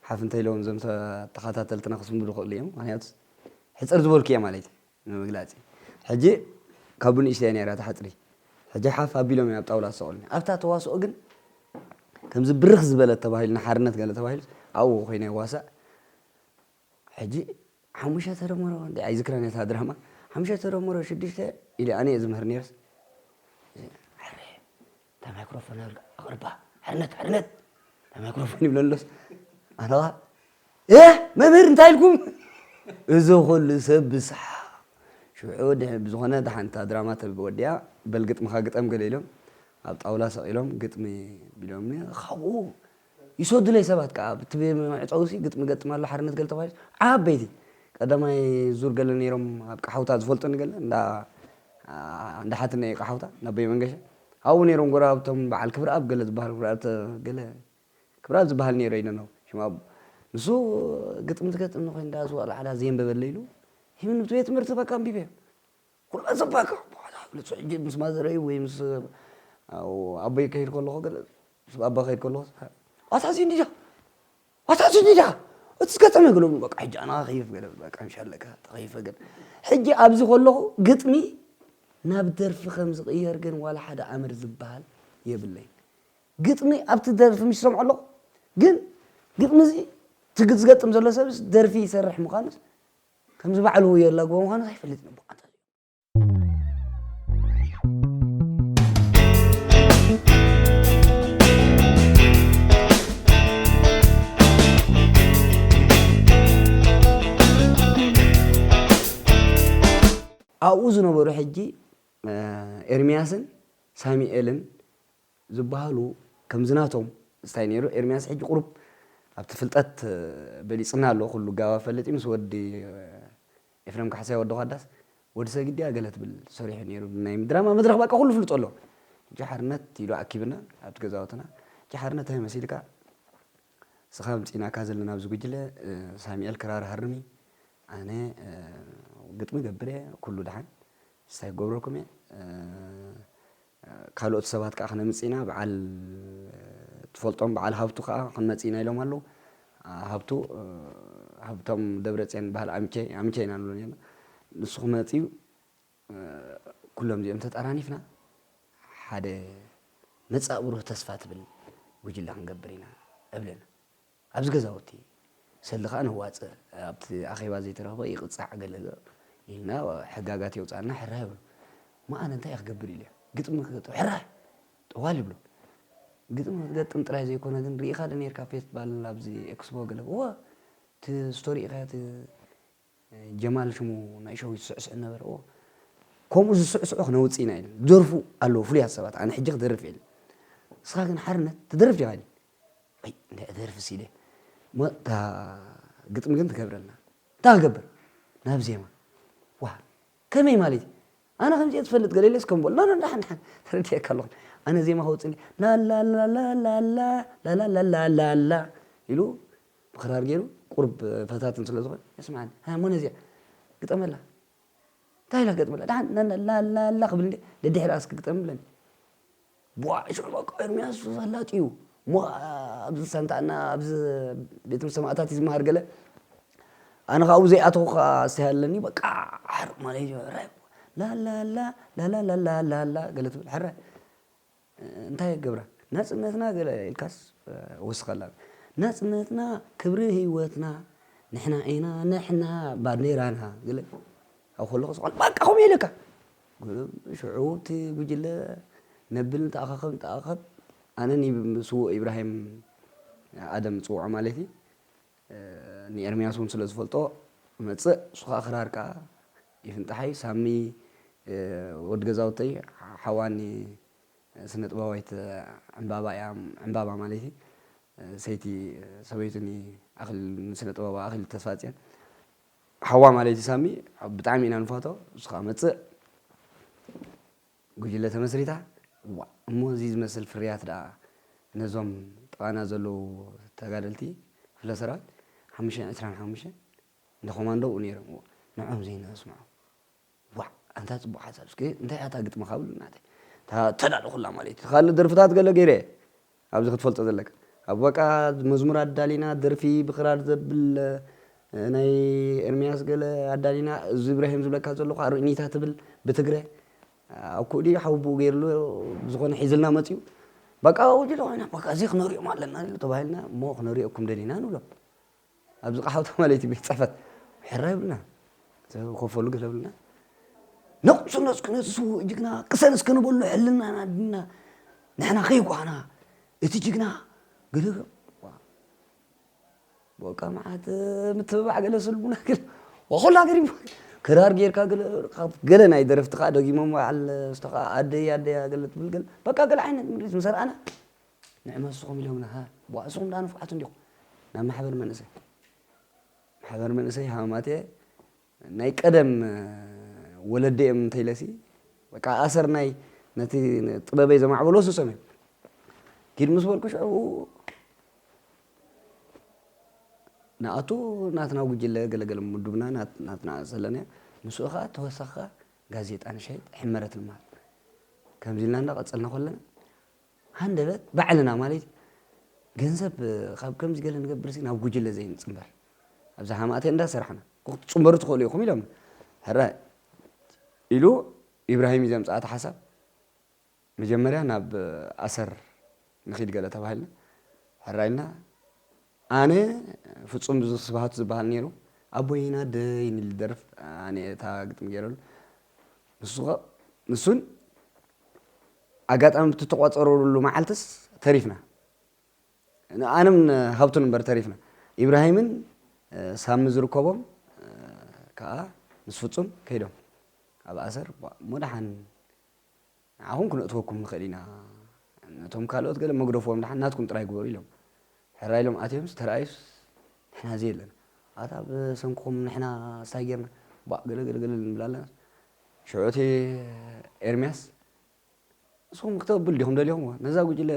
Speaker 2: ሓፍ እንተኢለ እውን እዞም ተኸታተልትና ክስምብዱ ክእሉ እዮም ምክንያቱ ሕጽር ዝበልኩ እየ ማለት እዩ ንምግላጽ እዩ ሕጂ ካብ ብንእሽተይ እያ ነይራ እታ ሕጽሪ ሕጂ ሓፍ ኣቢሎም እዮም ኣብ ጣውላ ዝሰቅሉኒ ኣብታ ተዋስኦ ግን ከምዚ ብርኽ ዝበለት ተባሂሉ ንሓርነት ገለ ተባሂሉስ ኣብኡ ኮይነ ይዋሳእ ሕጂ ሓሙሽተ ተደመሮ እንዴ ኣይዝክራን እየ እታ ድራማ ሓሙሽተ ተደመሮ ሽዱሽተ ኢለ ኣነ እየ ዝምህር ነይረስ እታ ማይክሮፎን ኣቕርባ ሕርነት ሕርነት እታ ማይክሮፎን ይብሎ ኣሎስ ኣነዋ መምህር እንታይ ኢልኩም እዚ ኩሉ ሰብ ብስሓ ሽዑ ብዝኾነ ሓንቲ ድራማ ተወዲኣ በል ግጥምኻ ግጠም ገለ ኢሎም ኣብ ጣውላ ሰቒሎም ግጥሚ ቢሎምኒ ካብኡ ይሰዱለይ ሰባት ከኣ ኣብቲ መዕጸዊሲ ግጥሚ እገጥም ኣሎ ሓርነት ገለ ተባሂሉ ዓበይቲ ቀዳማይ ዙር ገለ ነይሮም ኣብ ቀሓውታ ዝፈልጡኒ ገለ እንዳ እንዳ ሓትነይ እዩ ቀሓውታ እንዳ ኣቦይ መንገሻ ኣብኡ ነይሮም ጎረባብቶም በዓል ክብርኣብ ገለ ዝበሃል ክብርኣብ ገለ ክብርኣብ ዝበሃል ነይሩ ኣይደነው ሽም ኣቦ ንሱ ግጥሚ ዝገጥም ንኮይ እንዳ ዝዋእለ ዓዳ ዘየንበበለይ ኢሉ ሂብኒ ብቲ ቤት ትምህርቲ በቃ ኣንቢበዮ ኩላ ዘባካ ብሓደ ግልጽ ሕጂ ምስ ማዘረይ ወይ ምስ ኣቦይ ክኸይድ ከለኹ ገለ ምስ ባባ ክኸይድ ከለኹ ኣታ እዚ እንዲዳ ኣታ እዚ እንዲዳ እቲ ዝገጠመ ገለሉ በቃ ሕጂ ኣና ከይፍ ገለ በቃ ምሻለካ ተኸይፈ ገለ ሕጂ ኣብዚ ከለኹ ግጥሚ ናብ ደርፊ ከም ዝቕየር ግን ዋላ ሓደ ኣምር ዝበሃል የብለይን ግጥሚ ኣብቲ ደርፊ ምስ ሰምዖ ኣለኹ ግን ግጥሚ እዚ ትግዝገጥም ዘሎ ሰብስ ደርፊ ይሰርሕ ምዃኑስ ከምዚ ባዕሉ የላግቦ ምዃኑ ዘይፈልጥ ንቡዓት ኣብኡ ዝነበሩ ሕጂ ኤርምያስን ሳሚኤልን ዝባሃሉ ከምዚ ናቶም ስታይ ነይሩ ኤርሚያስ ሕጂ ቁሩብ ኣብቲ ፍልጠት በሊጽና ኣሎ ኩሉ ጋባ ፈልጥ እዩ ምስ ወዲ ኤፍረም ካሕሳይ ወዲ ኳዳስ ወዲ ሰግድ ድያ ገለ ትብል ሰሪሑ ነይሩ ናይ ድራማ መድረኽ ባቃ ኩሉ ፍልጦ ኣሎ ሕጂ ሓርነት ኢሉ ኣኪብና ኣብቲ ገዛውትና ሕጂ ሓርነት እንታይ መሲልካ እስኻ ኣምጺእናካ ዘለና ኣብዚ ጉጅለ ሳሚኤል ክራር ሃርሚ ኣነ ግጥሚ ገብር እየ ኩሉ ድሓን ስታይ ክገብረኩም እየ ካልኦት ሰባት ከኣ ክነምጽእ ኢና በዓል ትፈልጦም በዓል ሃብቱ ከኣ ክንመጽእ ኢና ኢሎም ኣለዉ። ሃብቱ ሃብቶም ደብረጽዮን ዝበሃል ኣምቸ ኣምቸ ኢና ንብሎ ኔርና ንሱ ክመጽእ እዩ ኩሎም እዚኦም ተጠራኒፍና ሓደ መጻኢ ብሩህ ተስፋ ትብል ጉጅለ ክንገብር ኢና እብለና። ኣብዚ ገዛውቲ ሰልዲ ከኣ ነዋጽእ ኣብቲ ኣኼባ ዘይተረኽበ ይቕጻዕ ገለ ኢልና ሕጋጋት የውጻኣልና ሕራይ በሉ መኣነ እንታይ ክገብር ኢለ ግጥሚ ክገጥም ሕራይ ጠዋል ይብሉ ግጥሚ ክትገጥም ጥራይ ዘይኮነ ግን ርኢኻ ዶ ኔርካ ፌስትባል ኣብዚ ኤክስፖ ገለ እወ እቲ ስቶሪ ኢኻ እቲ ጀማል ሽሙ ናይ ሸዊት ስዕስዕ ነበረዎ ከምኡ ዝስዕስዑ ክነውጽእ ኢና ኢሎም ዝደርፉ ኣለዉ ፍሉያት ሰባት ኣነ ሕጂ ክደርፍ እየ ኢለ ንስኻ ግን ሓርነት ትደርፍ ዲኻ ኢለ ኣይ እንታይ እደርፍስ ኢለ እሞ እታ ግጥሚ ግን ትገብረልና እንታይ ክገብር ናብ ዜማ ዋ ከመይ ማለት እዩ ኣነ ከምዚ እየ ዝፈልጥ ገለ ኢለስ ከም በሎ ንዳሓን ዳሓን ተረዲኤካ ኣለኹ ኣነ ዜማ ከውጽእ ላላላላላላላላላላ ኢሉ ብክራር ጌሩ ቁሩብ ፈታትን ስለ ዝኾነ የስምዓኒ ሃየ እሞ ነዚኣ ግጠመላ እንታይ ኢለ ክገጥመላ ደሓን ላላላላ ክብል እንዴ ደድሕሪኣስ ክግጠም እብለኒ ቧዕ ሽዑ በቃ ኤርምያስ ፈላጥ እዩ እሞ ኣብዚ ሳንታና ኣብዚ ቤት ትምህርቲ ሰማእታት እዩ ዝመሃር ገለ ኣነ ካብኡ ዘይኣተኹ ከዓ ኣስተይ ኣለኒ በቃ ሓርቕ ማለት እዩ ላላላ ላላላላላላ ገለ ትብል ሕራይ እንታይ ክገብራ ናጽነትና ገለ ኢልካስ ወስኸላ ናጽነትና ክብሪ ሂወትና ንሕና ኢና ንሕና ባንዴራና ገለ ኢልካ ኣብ ከለኹ ስቃል ባቃ ከምኡ ኢለካ ሽዑ እቲ ጉጅለ ነብል ንተኣኻኸብ ንተኣኻኸብ ኣነ ንስዉእ ኢብራሂም ኣደም ጽውዖ ማለት እዩ ንኤርምያስ እውን ስለ ዝፈልጦ መጽእ ንሱ ከዓ ክራር ከዓ ይፍንጠሓይ ሳሚ ወድ ገዛውተይ ሓዋኒ ስነጥበባዊት ዕንባባ እያ ዕንባባ ማለትይ ሰይቲ ሰበይቱኒ ኣክሊሉ ንስነጥበባዊ ኣክሊሉ ተስፋጽዮን ሓዋ ማለትይ ሳሚ ብጣዕሚ ኢና ንፋቶ እሱ ከኣ መጽእ ጉጅለ ተመስሪታ ዋእ እሞ እዚ ዝመስል ፍርያት ደኣ ነዞም ጥቃና ዘለዉ ተጋደልቲ ክፍለ ሰራዊት ሓሙሽተን ዕስራን ሓሙሽተን ንኮማንዶ ኣብኡ ነይሮም እዎ ንዖም ዘይነስምዖ ዋዕ ኣንታ ጽቡቅ ሓሳብ እስከ እንታይ እያ እታ ግጥምካ በሉኒ ናተይ እታ እተዳለኹላ ማለት እዩ ካልእ ደርፍታት ገለ ገይረ እየ ኣብዚ ክትፈልጦ ዘለካ ኣብ በቃ መዝሙር ኣዳሊና ደርፊ ብክራር ዘብል ናይ ኤርሚያስ ገለ ኣዳሊና እዚ እብራሂም ዝብለካ ዘለኹ ኣርእኒታ ትብል ብትግረ ኣብ ኩኡ ድዩ ሓዊ ብኡ ገይርሉ ዝኾነ ሒዝልና መፅኡ በቃ ውጅለ ኮይና በቃ እዚ ክነሪኦም ኣለና ተባሂልና እሞ ክነሪኦኩም ደሊና ንብሎም ኣብዚ ቃሕ ወተማ ለይቲ ቤት ፅሕፈት ሕራ ይብልና ዝኸፈሉ ገለ ብልና ነቕፅሎ እስኪ ነቲ ስውእ ጅግና ቅሰን እስኪ ንበሎ ሕልናና ድና ንሕና ከይጓና እቲ ጅግና ገለ በቃ መዓት ምትብባዕ ገለ ስልቡና ገለ ወኹላ ገሪቡ ክራር ጌርካ ገለ ገለ ናይ ደረፍቲ ከዓ ደጊሞም በዓል ዝተኸ ኣደይ ኣደይ ገለ ትብል ገለ በቃ ገለ ዓይነት ምድሪት ምሰርኣና ንዕመሱኹም ኢሎም ነሃ ብዋእሱኹም ድኣ ንፉዓት እንዲኹም ናብ ማሕበር መንእሰይ ማሕበር መንእሰይ ሃማማቴ ናይ ቀደም ወለዲ እዮም እንተይለሲ በቃ ኣሰር ናይ ነቲ ጥበበይ ዘማዕበሎ ስሶም እዮም ኪድ ምስ በልኩ ሽዑ ንኣቱ ናትና ጉጅለ ገለገለ ምዱብና ናትና ዘለና ምስኡ ከዓ ተወሳኺ ጋዜጣ ንሸይጥ ሕመረት ንመሃል ከምዚ ኢልና እንዳቐፀልና ከለና ሃንደበት ባዕልና ማለት እዩ ገንዘብ ካብ ከምዚ ገለ ንገብር ናብ ጉጅለ ዘይንፅምበር ኣብዛ ሃማቴ እንዳሰራሕና ክትፅምበሩ ትኽእሉ ኢኹም ኢሎም ሕረ ኢሉ ኢብራሂም እዩ ዘምፅኣት ሓሳብ መጀመርያ ናብ ኣሰር ንኺድ ገለ ተባሂልና ሕራ ኢልና ኣነ ፍጹም ስብሃቱ ዝብሃል ኔሩ ኣቦይን ኣደይን ኢሉ ዝደርፍ ኣነ እታ ግጥሚ ጌረሉ ንሱ ከ ንሱን ኣጋጣሚ ብቲ ተቋጸረሉ መዓልትስ ተሪፍና ኣነም ሃብቱን እምበር ተሪፍና ኢብራሂምን ሳሚ ዝርከቦም ከኣ ምስ ፍጹም ከይዶም ኣብ ኣሰር እሞ ደሓን ንዓኹም ክነእትወኩም ንኽእል ኢና፣ ነቶም ካልኦት ገለ መግደፎኦም ደሓን ናትኩም ጥራይ ግበሩ ኢሎም። ሕራይ ኢሎም ኣትዮምስ ተራእዩስ ንሕና ዘየለና። ኣታ ብሰንክኹም ንሕና ስታይ ጌርና ባእ ገለ ገለ ገለ ንብል ኣለናስ። ሽዑ እቲ ኤርምያስ ንስኹም ክተብሉ ዲኹም ደሊኹምዎ፣ ነዛ ጉጅለ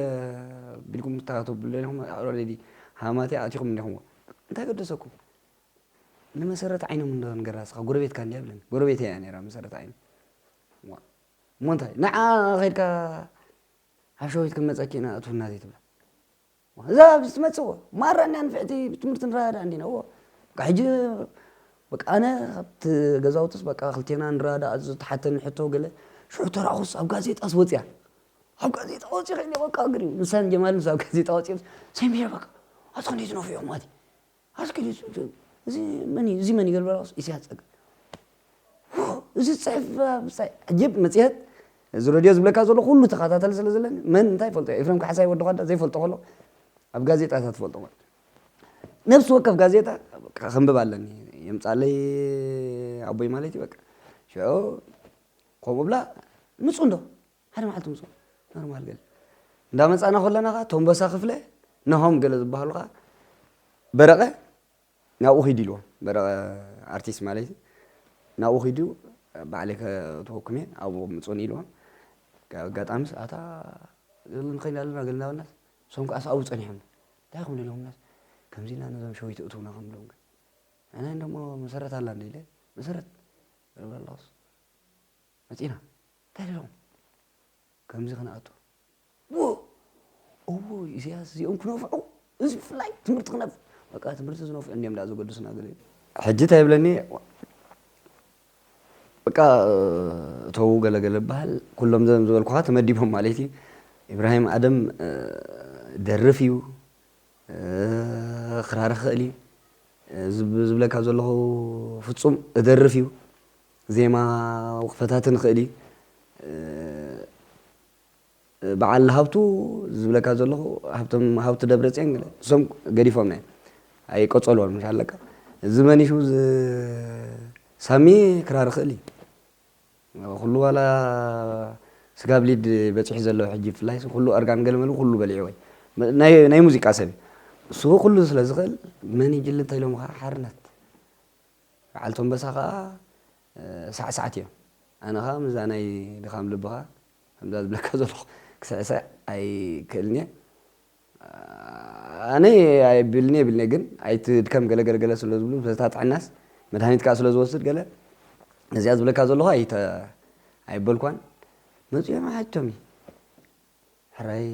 Speaker 2: ቢልኩም ክተብሉ ደሊኹምዎ፣ ኣልሬዲ ሃማትያ ኣቲኹም እኒኹምዎ፣ እንታይ ገደሰኩም? ንመሰረት ዓይኖም እንዶ ንገራ እስኻ ጎረቤትካ እንድያ በለኒ። ጎረቤተይ እያ ነይራ መሰረት ዓይኖም። ዋእ! እሞ እንታይ ንዓ ከድካ ኣብ ሸዊት ክንመፀኪ ኢና እትውና ዘይትብላ እዛ ኣብዚ ትመፅእ ወ ማራ እንዲያ ንፍዕቲ ብትምህርቲ ንረዳዳእ እንዲና ወ በቃ ሕጂ በቃ ኣነ ካብቲ ገዛውትስ በቃ ክልቴና ንረዳዳእ ኣዚ ተሓተኒ ሕቶ ገለ ሽዑ ተራእኹስ ኣብ ጋዜጣስ ወፅያ ኣብ ጋዜጣ ወፂ ከይኒ በቃ ግሪ ምሳን ጀማል ምስ ኣብ ጋዜጣ ወፂኦም ሰሚረ በቃ ኣቲ ክንደይ ትነፍዑ ማለት እዩ ኣስኪ እዚ መን እዩ እዚ መን እዩ ገለ በለ ኢሳያስ ጸጋ እዚ ጽሕፍ ብጻይ ሕጂ መጽሔት እዚ ረድዮ ዝብለካ ዘሎ ኩሉ ተኸታተሊ ስለ ዘለኒ መን እንታይ ይፈልጦ ኤፍሬም ካሕሳይ ወዲ ኳዳ ዘይፈልጦ ከሎ ኣብ ጋዜጣታት ትፈልጦ ማለት ነብሲ ወከፍ ጋዜጣ ከንብብ ኣለኒ የምጻለይ ኣቦይ ማለት እዩ በቃ ሽዑ ከምኡ ብላ ምጹ እንዶ ሓደ መዓልቲ ምጾም ኖርማል ገለ እንዳመጻና ከለና ከኣ ቶምበሳ ክፍለ ናሆም ገለ ዝበሃሉ ከኣ በረቐ ናብኡ ኺድ ኢልዎ በረቐ ኣርቲስት ማለት እዩ ናብኡ ኺዱ ባዕለይ ከእትወኩም እየ ኣብኡ ምጹን ኢልዎም ኣጋጣሚ ሰዓታ ገለ ንኸይድ ኣለና ገለ ናበልናስ እሶም ከኣ ሰብኡ ጸኒሖም እንታይ ኹም ኢሎምናስ ከምዚ ኢልና ነዞም ሸዊት እትውና ከም ኢሎም ግን ኣነ እንደሞ መሰረት ኣላ እንደ ኢለ መሰረት እብለ ኣለኹስ መጺና እንታይ ኣለዎም ከምዚ ክንኣቱ ዎ እዎ ኢሰያስ እዚኦም ክነፍዑ እዚ ብፍላይ ትምህርቲ ክነፍ በቃ ትምህርቲ ዝነፍዑ እንዲም ዳ ዘገድሱና ገለ ሕጂ እንታይ ይብለኒ በቃ እተዉ ገለገለ በሃል ኩሎም ዘም ዝበልኩኻ ተመዲቦም ማለት እዩ ኢብራሂም ኣደም ደርፍ እዩ ክራር ክኽእል እዩ ዝብለካ ዘለኹ ፍጹም እደርፍ እዩ ዜማ ወክፈታትን ኽእሊ ብዓል ሃብቱ ዝብለካ ዘለኹ ሃብቶም ሃብቱ ደብረፅዮን ገለ እሶም ገዲፎም እዮም ኣይቀፀልዎን ምሽ ኣለካ እዚ መኒሹ ሳሚ ክራር ኽእል እዩ ኩሉ ዋላ ስጋ ብሊድ በፂሑ ዘለዎ ሕጂ ብፍላይ ኩሉ እርጋን ገለመሉ ኩሉ በሊዕዎ ናይ ሙዚቃ ሰብ እዩ እሱ ኩሉ ስለ ዝኽእል መን ይጅሊ እንተኢሎምኻ ሓርነት በዓል ቶምበሳ ከኣ ሳዕሳዕት እዮም ኣነ ከኣ ምስዛ ናይ ድኻም ልብኻ ከምዛ ዝብለካ ዘለኹ ክስዕስዕ ኣይክእልን እየ ኣነ ኣይብልን እየ ብልኒ ግን ኣይትድከም ገለ ገለ ገለ ስለ ዝብሉ በታ ጥዕናስ መድሃኒት ከኣ ስለ ዝወስድ ገለ ነዚኣ ዝብለካ ዘለኹ ኣይተ ኣይበልኳን መጺኦም ሓጅቶሚ ሕራይ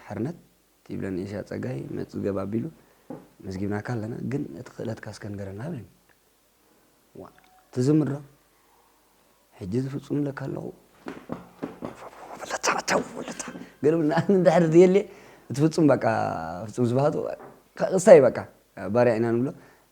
Speaker 2: ሓርነት ትብለን ኤሻ ጸጋይ መጽገብ ኣቢሉ መዝጊብናካ ኣለና ግን እቲ ክእለትካ እስከ ንገረና በለኒ ዋእ ትዝምር ዶ ሕጂ ዝፍጹም ለካ ኣለኹ ገለ ንኣምን ድሕሪ ዘየለ እቲ ፍጹም በቃ ፍጹም ስብሃቱ ክስታይ በቃ ባርያ ኢና ንብሎ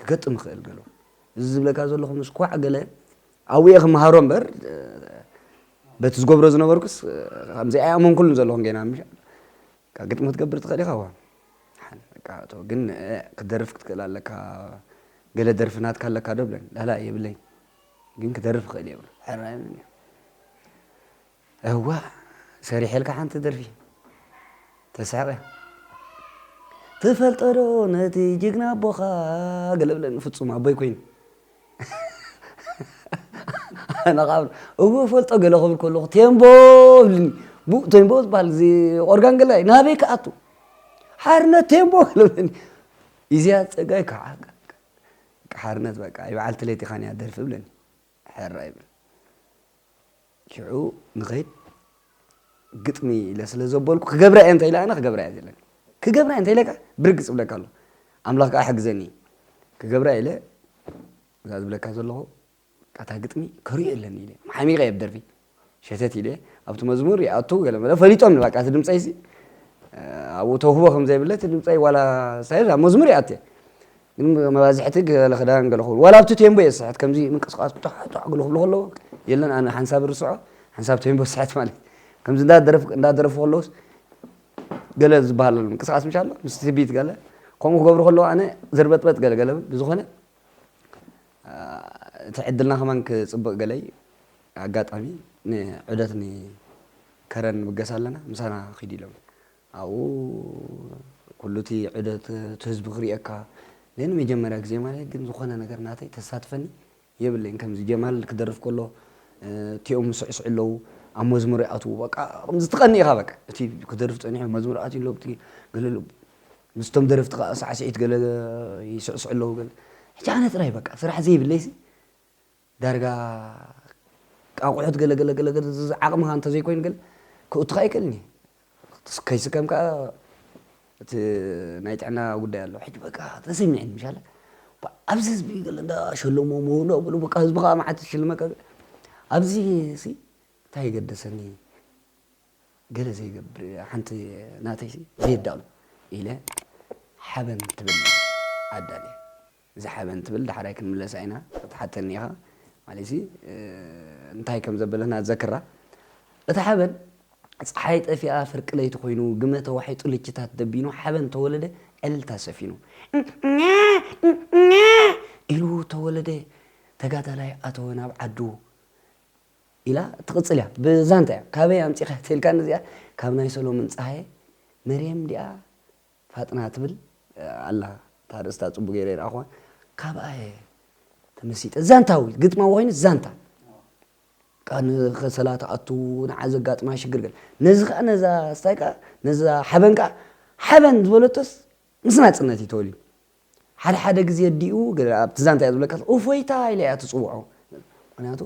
Speaker 2: ክገጥም ይኽእል ገሉ እዚ ዝብለካ ዘለኹ ምስ ኳዕ ገለ ኣብየ ክምሃሮ እምበር በቲ ዝገብሮ ዝነበርኩስ ከምዚ ኣይኣመንኩሉን ዘለኹን ገና ምሻ ግጥሚ ክትገብር ትኽእል ኢኻ ዋ ግን ክደርፍ ክትክእል ኣለካ ገለ ደርፊ ናትካ ኣለካ ዶ ብለን ላላ የብለይ ግን ክደርፍ ክእል እየ ብሎ ሕራይ እዋእ ሰሪሐልካ ሓንቲ ደርፊ ተስሕቀ ትፈልጦ ዶ ነቲ ጅግና ኣቦኻ ገለ ብለኒ ፍጹም ኣቦይ ኮይኑ ኣነ ከዓ እወ ፈልጦ ገለ ክብል ከለኹ ቴምቦ ብልኒ ብኡ ቴምቦ ዝበሃል እዚ ኦርጋን ገላይ ናበይ ክኣቱ ሓርነት ቴምቦ ገለ ብለኒ ኢዚያ ፀጋይ ከዓ ሓርነት በቃ ይበዓልቲ ለይቲ ኻንያ ደርፊ ብለኒ ሐራይ በል ሽዑ ንኸይድ ግጥሚ ኢለ ስለ ዘበልኩ ክገብራ እየ እንተኢላ ኣነ ክገብራ እየ ዘለኒ ክገብራ እየ እንተኢለ ከዓ ብርግፅ እብለካ ኣሎ ኣምላኽ ከዓ ሕግዘኒ ክገብራ ኢለ እዛ ዝብለካ ዘለኹ እታ ግጥሚ ከሪኦ የለኒ ኢለ መሓሚቐ እየ ብደርፊ ሸተት ኢለ ኣብቲ መዝሙር ይኣቱ ገለመለ ፈሊጦም ንባቃ እቲ ድምፀይሲ ኣብኡ ተውህቦ ከም ዘይብለ እቲ ድምፀይ ዋላ ሳይር ኣብ መዝሙር ይኣትየ ግን መባዝሕቲ ገለ ክዳን ገለ ክብሉ ዋላ ኣብቲ ቴምቦ እየ ዝስሕት ከምዚ ምንቅስቃስ ጧዕጧዕ ግሉ ክብሉ ከለዉ የለን ኣነ ሓንሳብ ርስዖ ሓንሳብ ቴምቦ ስሕት ማለት ከምዚ እንዳደረፉ ከለውስ ገለ ዝበሃል ኣሎ ምንቅስቃስ ምሽ ኣሎ ምስ ትቢት ገለ ከምኡ ክገብሩ ከለዉ ኣነ ዘርበጥበጥ ገለ ገለ ብዝኾነ እቲ ዕድልና ከማን ክጽብቅ ገለይ ኣጋጣሚ ን ዑደት ን ከረን ንብገስ ኣለና ምሳና ኪድ ኢሎምኒ ኣብኡ ኩሉ እቲ ዑደት እቲ ህዝቢ ክሪኤካ ን ንመጀመርያ ግዜ ማለተይ ግን ዝኮነ ነገር ናተይ ተሳትፈኒ የብለይን ከምዚ ጀማል ክደርፍ ከሎ እቲኦም ይስዕስዑ ኣለዉ ኣብ መዝሙር ይኣትዉ በቃ ከምዚ ትቀንእ ኢካ በቃ እቲ ክደርፍ ጸኒሑ መዝሙር ኣትዩ ኣሎ ገለ ኣሎ ምስቶም ደረፍቲ ከኣ ሳዕስዒት ገለ ይስዕስዑ ኣለዉ ገለ ሕጂ ኣነ ጥራይ በቃ ስራሕ ዘይብለይሲ ዳርጋ ኣቑሑት ገለ ገለ ገለ ገለ ዝዝ ዓቕምኻ እንተዘይኮይኑ ገለ ክእቱኻ ኣይክእልን እየ ከይስከም ከኣ እቲ ናይ ጥዕና ጉዳይ ኣሎ ሕጂ በቃ ተሰሚዕኒ ምሻለ ኣብዚ ህዝቢ ገለ እንዳ ሸለሞ ምውሎ ብሉ በቃ ህዝቢ ከኣ መዓት ዝሽልመካ ኣብዚ ሲ እንታይ ገደሰኒ ገለ ዘይገብር ሓንቲ ናተይ ዘየዳሉ ኢለ ሓበን ትብል ኣዳልየ እዛ ሓበን ትብል ዳሕራይ ክንምለሳ ኢና ክትሓተኒ ኢኻ ማለትሲ እንታይ ከም ዘበለትና ዘክራ እታ ሓበን ፀሓይ ጠፊኣ ፍርቂ ለይቲ ኮይኑ ግመ ተዋሒጡ ልችታት ደቢኑ ሓበን ተወለደ ዕልልታ ሰፊኑ ኢሉ ተወለደ ተጋዳላይ ኣተወ ናብ ዓዱ ኢላ ትቕጽል እያ ብዛንታ እያ ካበይ ኣምጺኻያ ተልካኒ እዚኣ ካብ ናይ ሰሎምን ጸሃየ መርየም ዲኣ ፋጥና ትብል ኣላ እታ ርእስታ ጽቡቅ ገይረ ኣይረኣኹዋን ካብኣ እየ ተመሲጠ ዛንታዊ ግጥማዊ ኮይኑ ዛንታ ከሰላ ትኣቱ ንዓ ዘጋጥማ ሽግር ገለ ነዚ ከዓ ነዛ ስታይ ከዓ ነዛ ሓበን ከዓ ሓበን ዝበለቶስ ምስ ናጽነት እዩ ተወሊዱ። ሓደ ሓደ ግዜ ኣዲኡ ገለ ኣብቲ ዛንታ እያ ዝብለካ እፎይታ ኢላ እያ ትጽውዖ ምኽንያቱ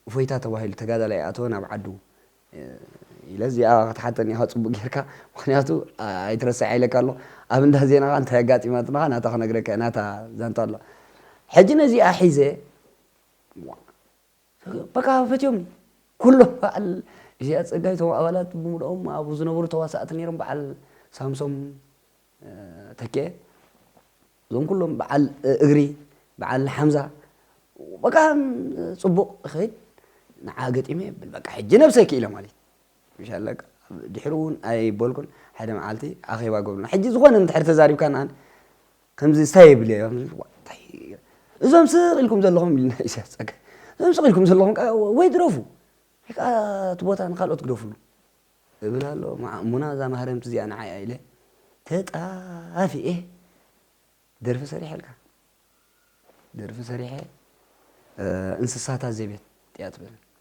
Speaker 2: እፎይታ ተባሂሉ ተጋዳላይ ይኣተወ ናብ ዓዱ ኢለ እዚኣ ክትሓተኒ እያ ጽቡቅ ጌርካ ምኽንያቱ ኣይትረስዓ ኢለካ ኣሎ ኣብ እንዳ ዜና ከኣ እንታይ ኣጋጢማትና ናታ ክነግረካ እየ ናታ ዛንታ ኣሎ ሕጂ ነዚኣ ሒዘ በቃ ፈትዮም ኩሎም በዓል ኢሰያስ ጸጋይ እቶም ኣባላት ብምልኦም ኣብኡ ዝነበሩ ተዋሳእቲ ነይሮም በዓል ሳምሶም ተኬ እዞም ኩሎም በዓል እግሪ በዓል ሓምዛ በቃ ጽቡቕ ይኸይድ ንዓ ገጢመ የብል በቃ ሕጂ ነብሰይ ክኢለ ማለት ምሻለካ ድሕሪ እውን ኣይበልኩን ሓደ መዓልቲ ኣኼባ ገብርና ሕጂ ዝኾነ እንድሕር ተዛሪብካ ንኣን ከምዚ እንታይ የብለይ እዞም ስቕ ኢልኩም ዘለኹም ኢልና ኢሳያስ ጸጋይ እዞም ስቕ ኢልኩም ዘለኹም ወይ ድረፉ ወይ ከዓ እቲ ቦታ ንካልኦት ግደፍሉ እብል ኣሎ ሙና እዛ ማህረምቲ እዚኣ ንዓይ ኢለ ተጣፊኤ ደርፊ ሰሪሐልካ ደርፊ ሰሪሐ እንስሳታት ዘቤት እያ ትብል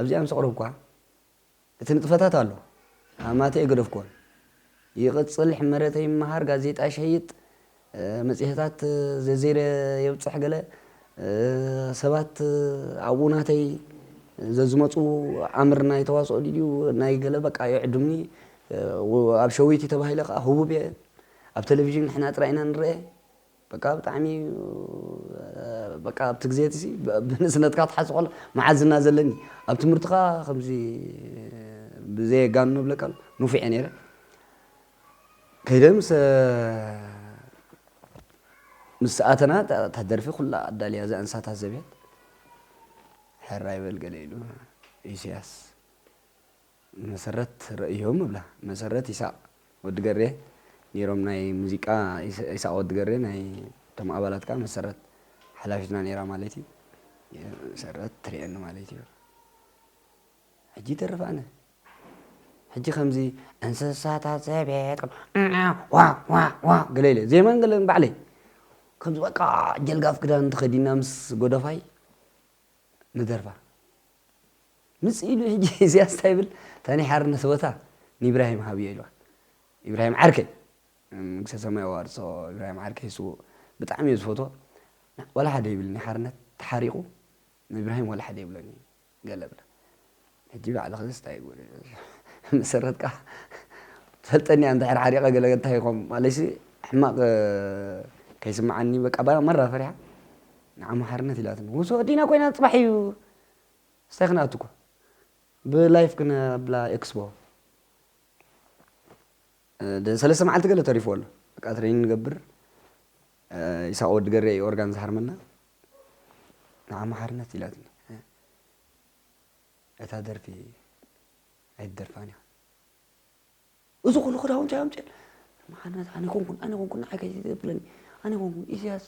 Speaker 2: ኣብዚኣ ምስ ኣቕረብኩዋ እቲ ንጥፈታት ኣሎ ኣማትይ ኣይገደፍኩዎን። ይቕጽል ሕመረተ ይመሃር ጋዜጣ ይሸይጥ መጽሔታት ዘዜረ የብጽሕ ገለ ሰባት ኣብኡ ናተይ ዘዝመጹ ኣምር ናይ ተዋስኦ ድዩ ናይ ገለ በቃ ይዕድሙኒ ኣብ ሸዊቲ ተባሂለ ከኣ ህቡብ እየ ኣብ ተለቪዥን ንሕና ጥራይ ኢና ንረኤ በቃ ብጣዕሚ በቃ ኣብቲ ግዜ እቲ ሲ ብንእስነትካ ትሓስብ ከሎ መዓዝ ዝና ዘለኒ ኣብ ትምህርትካ ከምዚ ብዘየጋኑ ንብለካ ኣሎ ንፉዕ እየ ነይረ ከይደ ምሰ ምስ ኣተና እታ ደርፊ ኩላ ኣዳልያ እዛ እንሳታት ዘቤት ሕራይ በል ገለ ኢሉ ኢሰያስ መሰረት ረእዮም እብላ መሰረት ይሳቅ ወዲ ገሬ ኔሮም ናይ ሙዚቃ ይሳቅ ወዲ ገሬ ናይ ቶም ኣባላት ከኣ መሰረት ሓላፊትና ኔራ ማለት እዩ መሰረት ትሪኤኒ ማለት እዩ ሕጂ ይተርፍ ኣነ ሕጂ ከምዚ እንስሳታት ዘቤት ከም ዑዑዕ ዋእ ዋእ ዋእ ገለ ኢለ ዜማን ገለን ባዕለይ ከምዚ በቃ ጀልጋፍ ክዳን ተኸዲና ምስ ጎደፋይ ንደርፋ ምጽእ ኢሉ ሕጂ እዚኣስ እንታይ ይብል እታ ናይ ሓርነት ቦታ ንኢብራሂም ሃብዮ ኢልዋ ኢብራሂም ዓርከይ መንግስተ ሰማይ ኣዋርሶ ኢብራሂም ዓርከይ ስውእ ብጣዕሚ እየ ዝፈትዎ ወላ ሓደ ይብልኒ ሓርነት ተሓሪቑ ንኢብራሂም ወላ ሓደ ይብሎን እዩ ገለ ብላ ሕጂ ባዕልኽንስ ታይ ጉድ እዩ መሰረትካ ትፈልጠኒ እያ እንድሕር ሓሪቀ ገለ እንታይ ይኮን ማለትሲ ሕማቅ ከይስምዓኒ በቃ ባላ መራ ፈሪሓ ንዓማ ሓርነት ኢላትኒ ውሶ ዲና ኮይና ፅባሕ እዩ ስታይ ክንኣቱ እኮ ብላይፍ ክነብላ ኤክስፖ ሰለስተ መዓልቲ ገለ ተሪፍዎ ኣሎ በቃ ትሬኒን ንገብር ይሳቅ ወዲ ገሬ እዩ ኦርጋን ዝሃርመና ንዓማ ሓርነት ኢላትኒ እታ ደርፊ ኣይትደርፋን ኢኻ እዚ ኩሉ ክዳውንቲ ኣምፅኦ መሓነት ኣነ ኮንኩን ኣነ ኮንኩን ንዓይ ከይ ዘብለኒ ኣነ ኮንኩን ኢሳያስ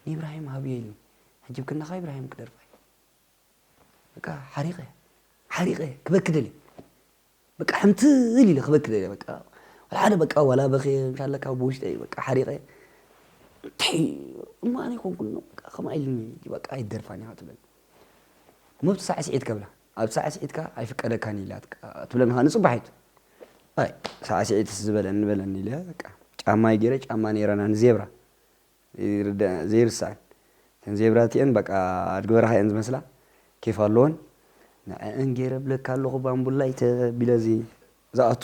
Speaker 2: ንኢብራሂም ሃብዮ ኢልኒ ሕጂ ብክንዳኻ ኢብራሂም ክደርፋ እዩ በቃ ሓሪቐ ሓሪቐ ክበኪ ደልየ በቃ ሕንትል ኢለ ክበኪ ደልየ በቃ ዋላ ሓደ በቃ ዋላ በኽየ እንታለካ ብውሽጠይ በቃ ሓሪቐ እንታይ እሞ ኣነ ኮንኩኖ በቃ ከምኣ ኢልኒ በቃ ኣይደርፋን እያ ትብል እሞ ኣብቲ ሳዕስዒት ከብላ ኣብ ሳዕስዒትካ ኣይፍቀደካን ኢላ ትብለኒ ከዓ ንፅባሒት ኣይ ሳዕስዒትስ ዝበለኒ በለኒ ኢለ በቃ ጫማይ ገይረ ጫማ ነይራና ንዜብራ ዘይርደኣን ዘይርሳዕን እተን ዜብራ እቲኤን በቃ ኣድጊ በረኻ እየን ዝመስላ ኬፍ ኣለወን ንዐኣን ጌረ እብለካ ኣለኹ ባምቡላይ ተቢለ እዚ ዝኣቱ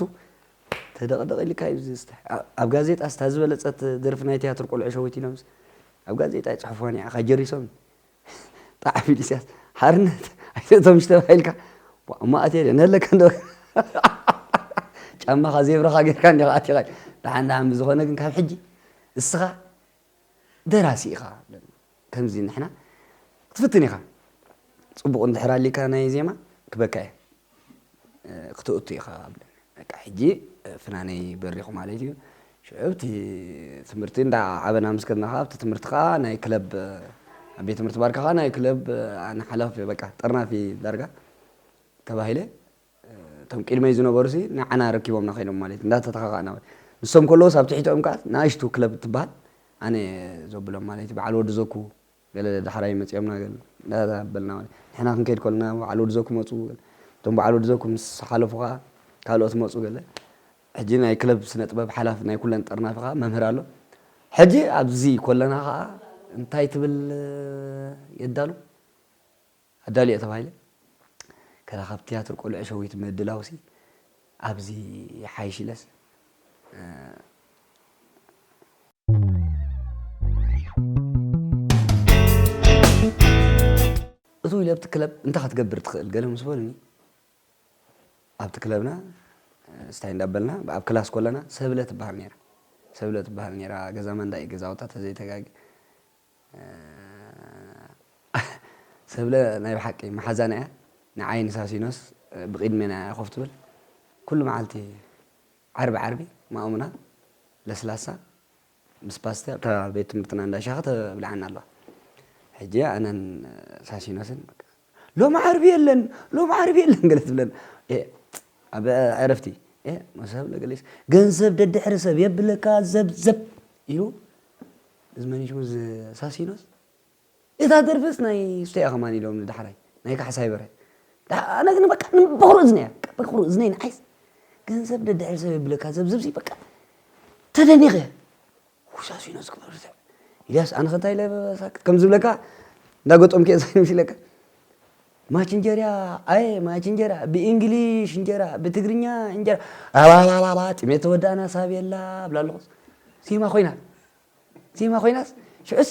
Speaker 2: ተደቕደቕ ኢልካ እዩ ዝስተ ኣብ ጋዜጣ ስታ ዝበለጸት ደርፊ ናይ ትያትር ቆልዑ ሸዊት ኢሎምስ ኣብ ጋዜጣ ይጽሕፍዋ ንዓኻ ጀሪሶም ጣዕፊል ኢስያስ ሓርነት ኣይትእቶም እሺ ተባሂልካ ዋእ እሞ ኣትየ ድየ ነለካ እንዶ ጫማኻ ዜብራኻ ጌርካ እንዲኻ ኣቲኻ ደሓን ደሓን ብዝኾነ ግን ካብ ሕጂ እስኻ ደራሲ ኢኻ ከምዚ ንሕና ክትፍትን ኢኻ ጽቡቕ እንድሕር ኣሊካ ናይ ዜማ ክበካ እየ ክተእቱ ኢኻ ኣብለኒ በቃ ሕጂ ፍናነይ በሪኹ ማለት እዩ ሽዑ ኣብቲ ትምህርቲ እንዳ ዓበና ምስ ከድና ከዓ ኣብቲ ትምህርቲ ከዓ ናይ ክለብ ኣብ ቤት ትምህርቲ ባርካ ከዓ ናይ ክለብ ኣነ ሓላፊ በቃ ጠርናፊ ዳርጋ ተባሂለ እቶም ቅድመይ ዝነበሩ ሲ ንዓና ረኪቦምና ኮይኖም ማለት እዩ እንዳተተኻኻእና ንሶም ከለዎስ ኣብ ትሕቲኦም ከዓ ንኣሽቱ ክለብ ትበሃል ኣነ ዘብሎም ማለት እዩ በዓል ወዲ ዘኩ ገለ ዳሕራይ መጺኦምና ገለ እንዳበልና ማለት ንሕና ክንከይድ ከሎና በዓል ወድዘ ክመጹ ገለ እቶም በዓል ወድዘ ምስ ሓለፉ ከኣ ካልኦት መጹ ገለ ሕጂ ናይ ክለብ ስነጥበብ ሓላፊ ናይ ኩለን ጠርናፊ ከኣ መምህር ኣሎ ሕጂ ኣብዚ ኮለና ከኣ እንታይ ትብል የዳሉ ኣዳሊ'የ ተባሂለ ከረኸብ ትያትር ቆልዑ ሸዊት ምድላውሲ ኣብዚ ይሓይሽ ኢለስ እትው ኢለ ኣብቲ ክለብ እንታይ ክትገብር ትኽእል ገለ ምስ በሉኒ ኣብቲ ክለብና ስታይ እንዳበልና ኣብ ክላስ ኮለና ሰብለ ትበሃል ነይራ ሰብለ ትበሃል ነይራ ገዛ ማንዳ እዩ ገዛውታ ተዘይተጋጊ ሰብለ ናይ ብሓቂ ማሓዛና እያ ንዓይ ንሳሲኖስ ብቂድሜና እያ ኮፍ ትብል ኩሉ ማዓልቲ ዓርቢ ዓርቢ ማእሙና ለስላሳ ምስ ፓስተ ኣብታ ቤት ትምህርትና እንዳ ሻሂ ተብልዓና ኣለዋ ሕጂ ኣነን ሳሲኖስን ሎሚ ዓርቢ የለን ሎሚ ዓርቢ የለን ገለ ትብለን ኣብ ዕረፍቲ መሰብ ለገሊስ ገንዘብ ደድሕሪ ሰብ የብለካ ዘብዘብ ኢሉ እዚ መን እዩ ሽሙ እዚ ሳሲኖስ እታ ደርፍስ ናይ እሱ እያ ከማን ኢሎምኒ ዳሕራይ ናይ ካሕሳይ በርሀ ኣነ ግን በቃ ንበክሩ እዝነ እያ በክሩ እዝነይ ንዓይስ ገንዘብ ደድሕሪ ሰብ የብለካ ዘብዝብ ሲ በቃ ተደኒኸ ሳሲኖስ ክበሩ ኢልያስ ኣነ ከንታይ ኢለ ሳክት ከም ዝብለካ እንዳገጠምኩ እየ ሳይኖስ ኢለካ ማች እንጀራ ኣየ ማች እንጀራ ብእንግሊሽ እንጀራ ብትግርኛ እንጀራ ኣባባባባ ጥሜት ተወዳእና ሳቤላ ብላ ኣለኹስ ዜማ ኮይና ዜማ ኮይናስ ሽዑስ